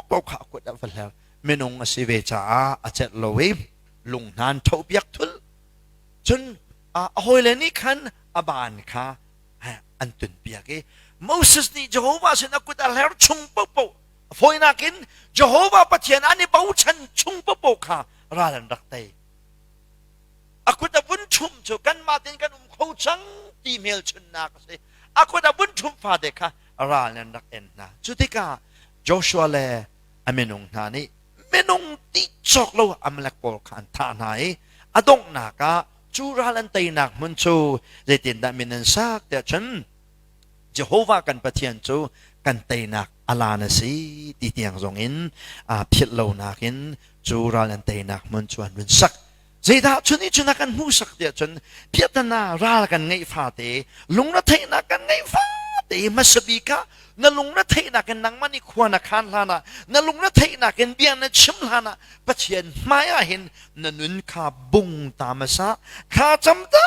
pau kha a kut a va hleng minung a si ve caah a celh lo i lunghnan ṭhopiak thul. Cun a hawile nih khan a ban kha an tunpiak i Moses nih Jehovah sinah kut a hler chung paohpaoh a fawinak in Jehovah Pathian an i bochan chung paohpaoh kha ral an rak tei. A kut a vun chum cu kanmah tein kan um kho cang ti hmelchunhnak a si. A kut a vun chum fate kha ral in an rak en hna. Cu tikah Joshua le a minung hna nih minung ti cawk lo Amalek pawl kha an thah hna i a donghnak ah cu ral an teinak hmun cu zeitindah min an sak tiah cun Jehovah kan Pathian cu kan teinak a lan a si ti tiang zong in aa philh lonak in cu ral an teinak hmun cu an run sak Zeidah chun i chun a kan hmuhsak tiah cun piahtana ral kan ngeih fate lungretheihnak kan ngeih fate hmasabik ah na lungretheihnak in nangmah nih khua na khan hlan ah na lungretheihnak in bia na chim hlan ah Pathian hmai ah hin na nun kha bung ta masa kha cam ta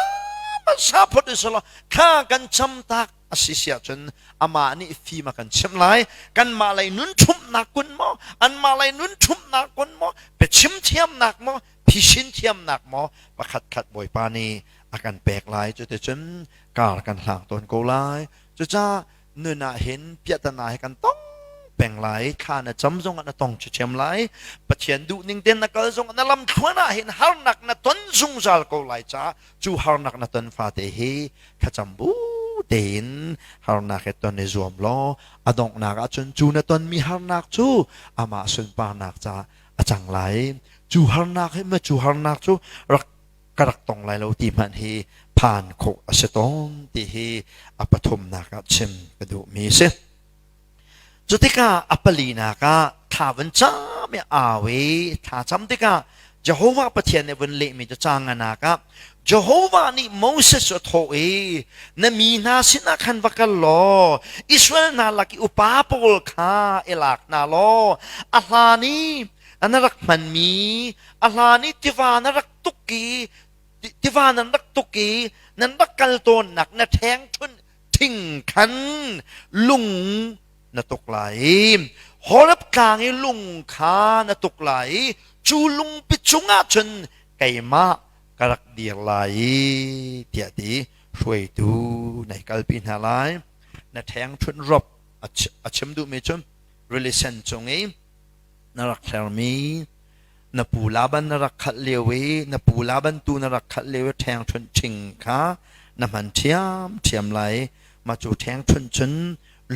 masa phot isolo kha kan cam tak a si sia cun amah nih fim a kan chim lai kanmah lei nun ṭhumnak kun maw anmah lei nun ṭhumnak kun maw pe chim thiamnak maw Phisin thiamnak maw pakhatkhat Bawipa nih a kan pek lai, cuticun kar kan hlang tawn ko lai. Cucaah nun ah hin piahtana hi kan tong peng lai, thla na cam zongah na tong ṭhithiam lai, Pathian duhning tein na kal zongah na lamthluan ah hin harnak na ton zungzal ko lai caah cu harnak na ton fate hi thlacam bu tein harnak he ton i zuam law a donghnak ahcun cu na tonmi harnak cu amah sunparnak caah a cang lai cu harnak hi ma cu harnak cu rak ka rak tong lai lo ti hmanh hi phan khawh a si tawn ti hi a pathumnak ah chim ka duhmi si cutikah a palinak ah thla van cam i au i thla cam tikah Jehovah Pathian nih vun lehmi cu ca nganak ah Jehovah nih Moses cu a thawh i, Na mi hna sinah khan va kal law Israel hna lak i upa pawl kha i lak hna law a hlan i na rak hmanmi, a hlan i tiva na rak tuk i tiva nan rak tuk i nan rak kal tawnnak na ṭhengṭhunh thing khan lung na tuk lai i Horeb tlang i lung kha na tuk lai i cu lungpi cungah cun keimah ka rak dir lai tiah ti hruaitu nei kalpi hna lai na ṭheng ṭhunh rop a chim duhmi cu relation cung i na rak thermi na pu laban na rak khalh lio i na pu laban tu na rak khalh lio i ṭheng ṭhunh ching kha na hman ṭhiam ṭhiam lai mah cu ṭheng ṭhunh cun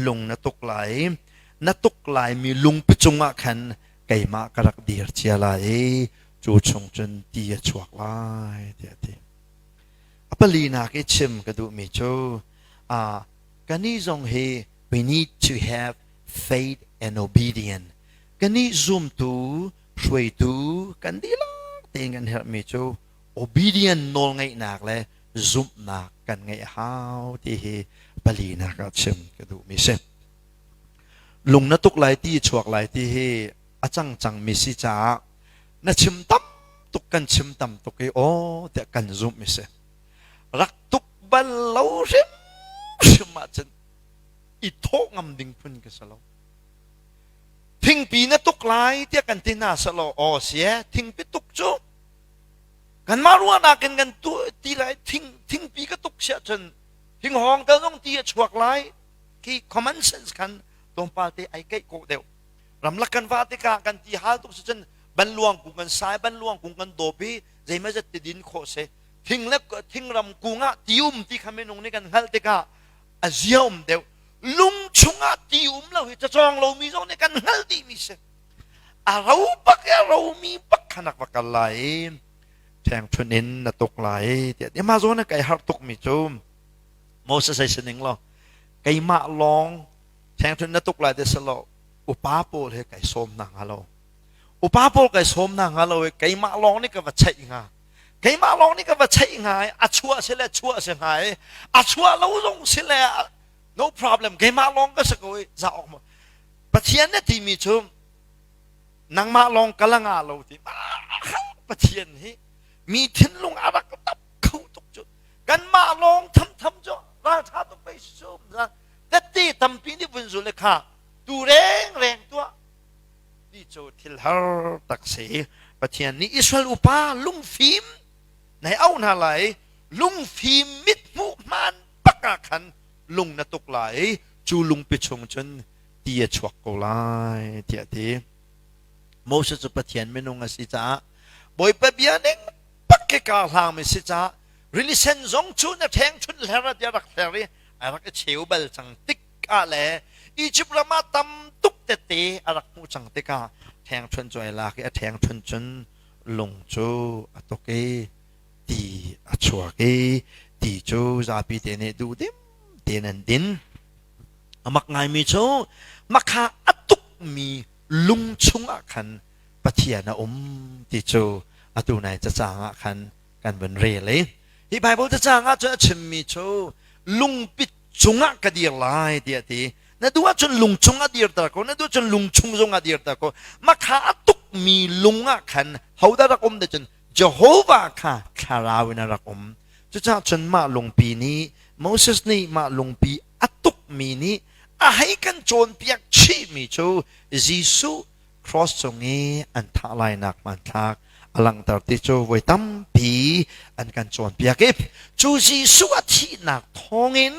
lung na tuk lai na tuk lai mi lungpi cungah khan keimah ka rak dir cia lai i cu chung cun ti a chuak lai tiah a ti. A pali nak i chim ka duhmi cu uh, kani zong hi we need to have faith and obedience. Kani zumtu hruaitu kan dihlak tein kan herhmi cu obedience nawl ngeihnak le zumhnak kan ngeih hau ti hi palinak ah chim ka duhmi si. Lung na tuk lai ti, chuak lai ti hi a cangcangmi si caah na chim tam tuk kan chim tam tuk i aw tiah kan zumh mi si. Rak tuk bal lo hrimhrim ahcun i thawh ngam ding phun ka si lo. Thingpi na tuk lai tiah kan ti hna selo aw sie thingpi tuk cu kanmah ruahnak in kan tu ti lai thing thingpi ka tuk si ahcun hinghawng ka zong ti a chuak lai khi common sense khan tlawmpal te ai keih ko deuh ramlak kan va tikah kan ti hal tuk cun banluang kung kan sai banluang kung kan dawp i zeimai zat ti din khawh se thing le thingram kung ah ti um ti kha minung nih kan hngalh tikah a zia um deuh lung chung ah ti um lo hi cacawng lomi zong nih kan hngal dihmi si a ro pak i a romi pak khanak va kal lai thengthun in na tuk lai tiah ma zawn a kai har tuk mi cu Moses ai sining lo keimah lawng thengthun na tuk lai ti si lo upa pawl he kai sawm na hnga lo upa pawl kai sawm na hnga lo i keimah lawng nih ka va cheih hnga keimah lawng nih ka va cheih hnga i a chuah si le chuah si hnga i a chuah lo zong si le no problem keimah lawng ka si ko i za awk ma pathian ne timi cu nangmah lawng ka la nga lo ti mahal pathian hi mi thinlung a rak tap kho tuk cu kanmah lawng thamtham cu ralṭha tuk pei sum na tette tampi nih vun zul le kha tu reng reng tuah ti cu thil har tak si pathian nih Israel upa lungfim nai au hna lai lungfim mit hmuh hman baka khan lung na tuk lai cu lungpi chung cun ti a chuak ko lai tiah ti Moses cu Pathian minung a si caah Bawipa bia ning pak i kaa hlangmi si caah rilisen zong cu na ṭhengchunh hler ah tiah rak hler i a rak i cheu bal cang tik ah le Egypt ram ah tam tuk tete a rak hmuh cang tikah ṭhengchunh cu ai lak i a ṭhengchunh cun lung cu a tuk i ti a chuak i ti cu zapi te nih duhdim tein an din a mak ngaimi cu makha a tukmi lung chung ah khan Pathian a um ti cu atu nai cacang ah khan kan vun rel i hi Baibal cacang ah cun a chimmi cu lungpit cungah ka dir lai tiah ti na duh ahcun lung chungah dirter ko na duh ahcun lung chung zongah dirter ko mah kha a tukmi lung ah khan hodah rak um cun Jehovah kha thlarau in a rak um cucah cun mah lungpi nih Moses nih mah lungpi a tukmi nih a hei kan cawnpiak chihmi cu Jesuh Cross cung i an thah lainak hmanthlak a langhter ti cu voi tampi an kan cawnpiak i cu Jesuh a thihnak thawngin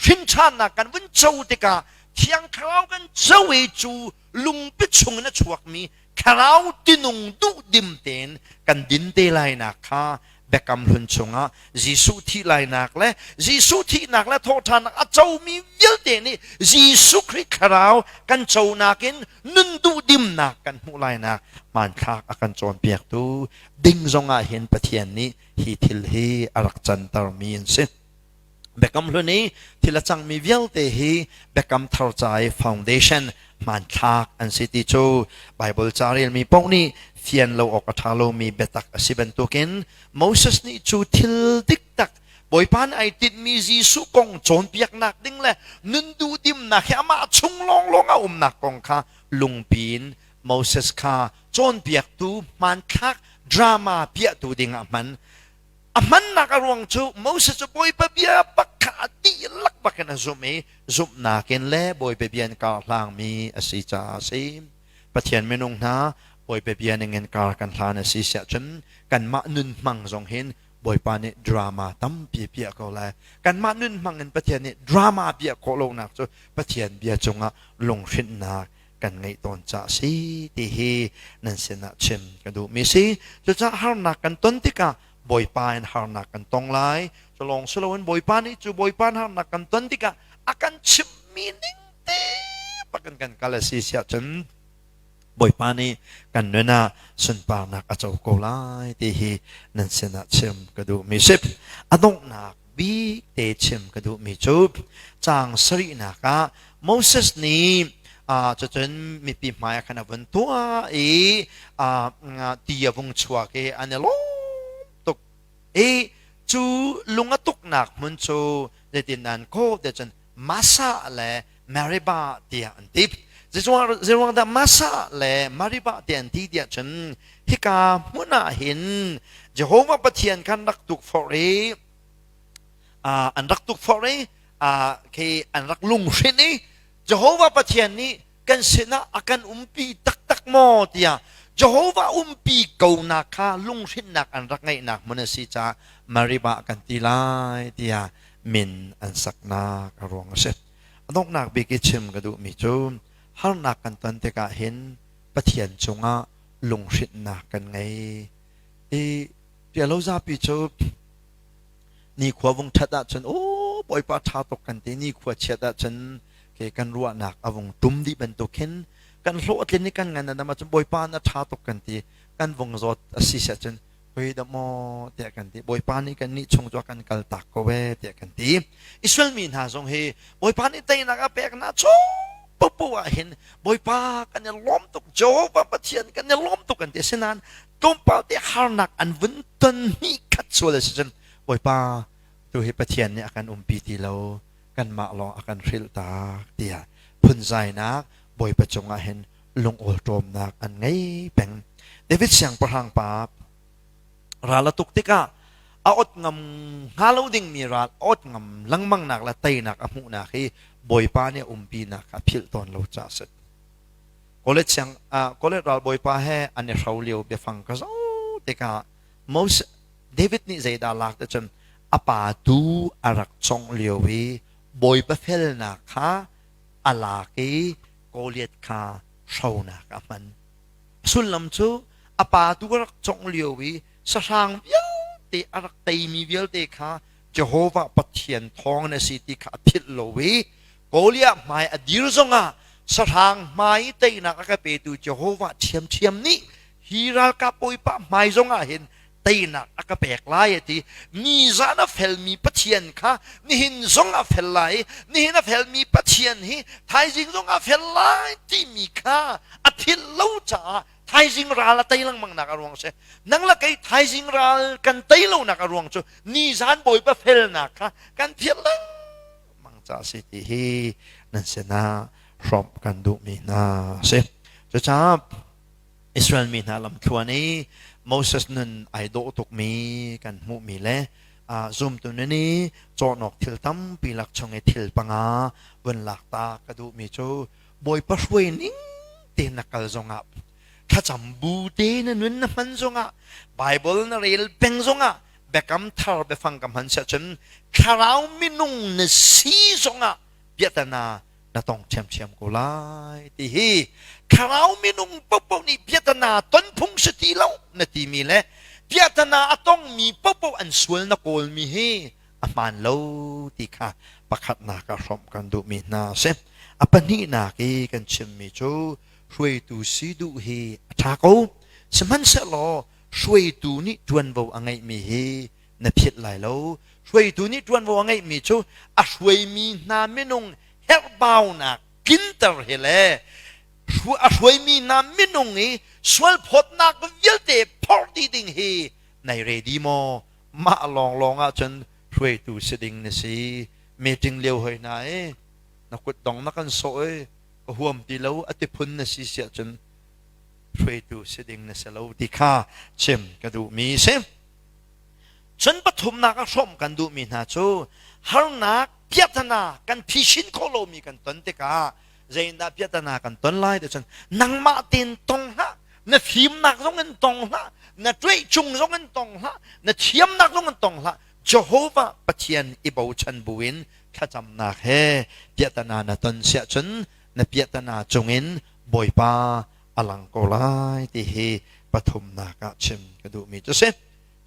hrinṭhannak kan vun co tikah Thiang Thlarau kan co i cu lungpi chung in a chuakmi thlarau tinung duh dim tein kan din te lainak kha Biakam hlun chungah Jesuh thih lainak le Jesuh thihnak le thawhṭhannak a comi vialte nih Jesuh Khrih thlarau kan conak in nun duhdimnak kan hmuh lainak hmanthlak a kan cawnpiaktu ding zongah hin Pathian nih hi thil hi a rak cantermi an si. Biakam Hlun i thil a cangmi vialte hi Biakam Thar ca i foundation hmanthlak an si ti cu Baibal ca relmi paoh nih fian lo awk a ṭha lomi biatak a si bantukin Moses nih cu thil diktak Bawipa nih ai tinhmi Jesuh kong cawnpiaknak ding le nun duhdimnak hi amah chung lawnglawng a umnak kong kha lungpi in Moses kha cawnpiaktu hmanthlak drama piahtu dingah hman A hmannak a ruang cu Moses cu bawipa bia bak kha a dihlak bak in a zumh i zumhnak in le bawipa bia in kar hlangmi a si caah a si. Pathian minung hna, bawipa bia ningin kar kan hlan a si siah cun kanmah nun hmang zong hin bawipa nih drama tampi piah ko lai. Kanmah nun hmang in Pathian nih drama piah khawh lonak cu Pathian bia cungah lunghrinhnak kan ngeih tawn ca si ti hi nan sinah chim ka duhmi si cucaah harnak kan ton tikah bawipa in harnak kan tong lai cu lawng si loin bawipa nih cu bawipa in harnak kan ton tikah a kan chimmi ning te pakin kan kal a si siah cun bawipa nih kan nun ah sunparnak a co ko lai ti hi nan sinah chim ka duhmi si a donghnak Bite chim ka duhmi cu caang sarihnak ah Moses nih cucun mipi hmaiah khan a vun tuah i ti a vung chuak i an i lawm tuk i cu lung a tuknak hmun cu zeitindan kawh te cun Massa le Meribah tiah an ti. Zeruangdah Massa le Meribah tiah an ti tiah cun hika hmun ah hin Jehovah Pathian kha an rak tukforh i an rak tukforh i khi an rak lunghrin i Jehovah Pathian nih kan sinah a kan umpi taktak maw tiah Jehovah umpi konak kha lunghrinnak an rak ngeihnak hmun a si caah Maribah kan ti lai tiah min an saknak a ruang a si. A donghnak bik i chim ka duhmi cu harnak kan ton tikah hin Pathian cungah lunghrinnak kan ngei. I pialozapi cu nikhua vung ṭhat ahcun aw Bawipa ṭha tuk kan ti nikhua chiat ahcun ke kan ruahnak a vung tum dih bantuk hin kan hlawhtlin i kan ngan adam ahcun Bawipa na ṭha tuk kan ti kan vung zawt a si set cun hoi da maw tiah kan ti Bawipa nih kan nih chung cu kan kal tak ko e tiah kan ti Israel mi hna zong hi Bawipa nih teinak a peknak chung papu ah hin Bawipa kan i lawm tuk Jehovah Pathian kan i lawm tuk kan ti sinain tlawmpal te harnak an vun ton ni khat sual a si cun Bawipa tu hi Pathian nih a kan umpi ti lo kanmah lawng a kan hrilh tak tiah phunzainak Bawipa cungah hin lungawl ṭawmnak an ngei peng David siangpahrang pa ral a tuk tikah a ot ngam hnga lo dingmi ral ot ngam lengmangnak le teinak a hmuhnak hi Bawipa nih a umpinak kha philh tawn lo ca a si College siang uh, college ralbawipa he an i hro lio biafang ka zo tikah Moses David nih zeidah lak te cun a pa tu a rak cong lio i bawipa felnak kha a lak i Goliath kha hronak a hman sullam cu a pa tu a rak cong lio i sahrang vialte a rak teimi vialte kha Jehovah Pathian thawng na si ti kha a philh lo i Goliath hmai a dir zongah sahrang hmai teinak a ka petu Jehovah ṭhiamṭhiam nih hi ralkap bawipa hmai zongah hin teinak a ka pek lai a ti. Ni zan a felmi Pathian kha nihin zong a fel lai i nihin a felmi Pathian hi thaizing zong a fel lai timi kha a philh lo caah thaizing ral a tei lengmangnak a ruang a si. Nang le kei thaizing ral kan tei lonak a ruang cu ni zan Bawipa felnak kha kan philh lengmang lengmang ca a si ti hi nan sinah hrawm kan duhmi hna a si. Cucaah Israel mi hna lamthluan i Moses nun ai dawh tukmi kan hmuhmi le zumtu nun i cawhnok thil tampi lak chung i thil panga vun lak ta ka duhmi cu Bawipa hruai ning te na kal zongah thlacam bu te na nun na hman zongah Bible na rel peng zongah Biakam thar biafang ka hman siah cun thlarau minung na si zongah biatana na tong ṭhiamṭhiam ko lai ti hi thlarau minung popoh nih biatana ton phung si ti lo na timi le biatana a tongmi popoh an sual na kawlmi hi a hmaan lo ti kha pakhatnak ah hrawmh kan duhmi hna a si a pahnihnak i kan chimmi cu hruaitu si duh hi a ṭha ko sihmanhsehlaw Hruaitu nih ṭuanvo a ngeihmi hi na philh lai lo. Hruaitu nih ṭuanvo a ngeihmi cu a hruaimi hna minung herhbaunak tlinter hi le a hruaimi hna minung i sualphawtnak vialte phorh dih ding hi nai redi maw? Mah lawnglawng ah cun hruaitu si ding na si. Meeting lio hoi hna i na kutdong na kan sawh i ka huam ti lo a ti phun na si siah cun hruaitu si ding na si lo ti kha chim ka duhmi si. Cun pathumnak a hrawm kan duhmi hna cu harnak piahtana kan phishin khawh lomi kan ton tikah zeitindah piahtana kan ton lai ti cun nangmah tein tong hlah na fimnak zong in tong hlah na tuih chung zong in tong hlah na thiamnak zong in tong hlah Jehovah Pathian i bochan buin thlacamnak he piahtana na ton siah cun na piahtana cungin Bawipa a lang ko lai ti hi pathumnak ah chim ka duhmi cu si.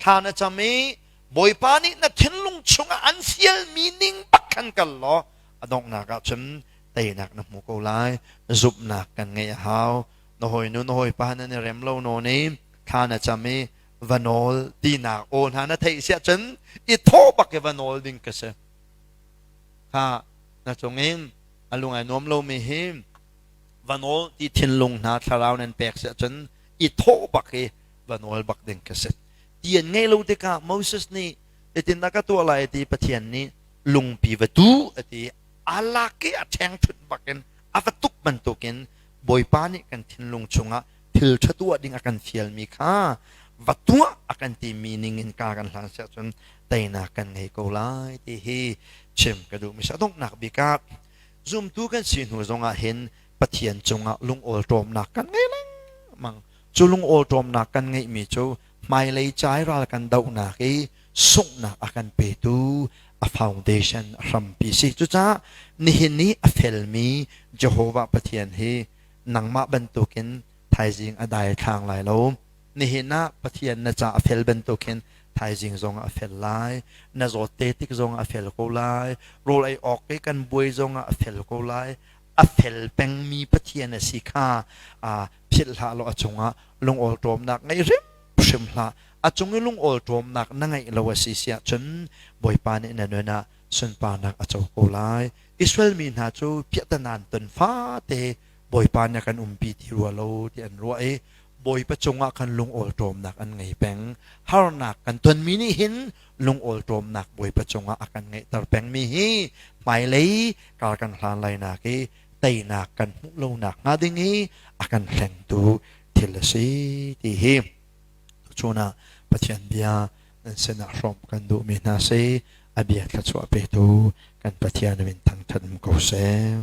Thla na cam i Bawipa nih na thinlung chungah an fialmi ning bak khan kal law a donghnak ah cun teinak na hmu ko lai. Zumhnak kan ngeih a hau. Na hawinu na hawipa nan i rem lo nawn i thla na cam i va nawl tinak aw hna na theih si ahcun i thaw bak i va nawl ding ka si. Kha na cungin A lung ai nuam lomi hi va nawl ti thinlung hna thlarau nan pek si ahcun i thawh bak i va nawl bak ding ka si. Ti an ngeih lo tikah Moses nih hitindah ka tuah lai ti Pathian nih lungpi va tu a ti a lak i a ṭheng ṭhut bakin a va tuk bantukin Bawipa nih kan thinlung chungah thilṭha tuah ding a kan fialmi kha va tuah a kan timi ningin ka kan hlan siah cun teinak kan ngei ko lai ti hi chim ka duh mi si a donghnak bik ah zumtu kan si hnu zongah hin Pathian cungah lungawl ṭawmnak kan ngei lengmang cu lungawl ṭawmnak kan ngeihmi cu hmailei cai ral kan dohnak i sunghnak a kan petu a foundation a hrampi si cucaah nihin ni a felmi Jehovah Pathian hi nangmah bantukin thaizing a daithlang lai lo. Nihin ah Pathian na ca a fel bantukin thaizing zong a fel lai. Na zawtte tik zong a fel ko lai. Rawl ei awk ke kan buai zong a fel ko lai. A fel pengmi Pathian a si kha aa philh hlah law a cungah lungawl ṭawmnak ngei hrim hlah. A cung i lungawl ṭawmnak na ngeih lo a si si ahcun Bawipa nih na nun ah sunparnak a co ko lai. Israel mi hna cu piahtanan ton fate Bawipa nih a kan umpi ti rua lo ti an ruah i Bawipa cungah khan lungawlṭawmnak an ngei peng. Harnak kan tonmi nih hin lungawlṭawmnak Bawipa cungah a kan ngeihter pengmi hi hmailei kar kan hlan lainak i teinak kan hmuh lo nakhnga ding i a kan hlengtu thil a si ti hi tuchun ah Pathian bia nan sinah hrawm kan duhmi hna si a bia thluachuah petu kan Pathian in thangṭhat um ko seh.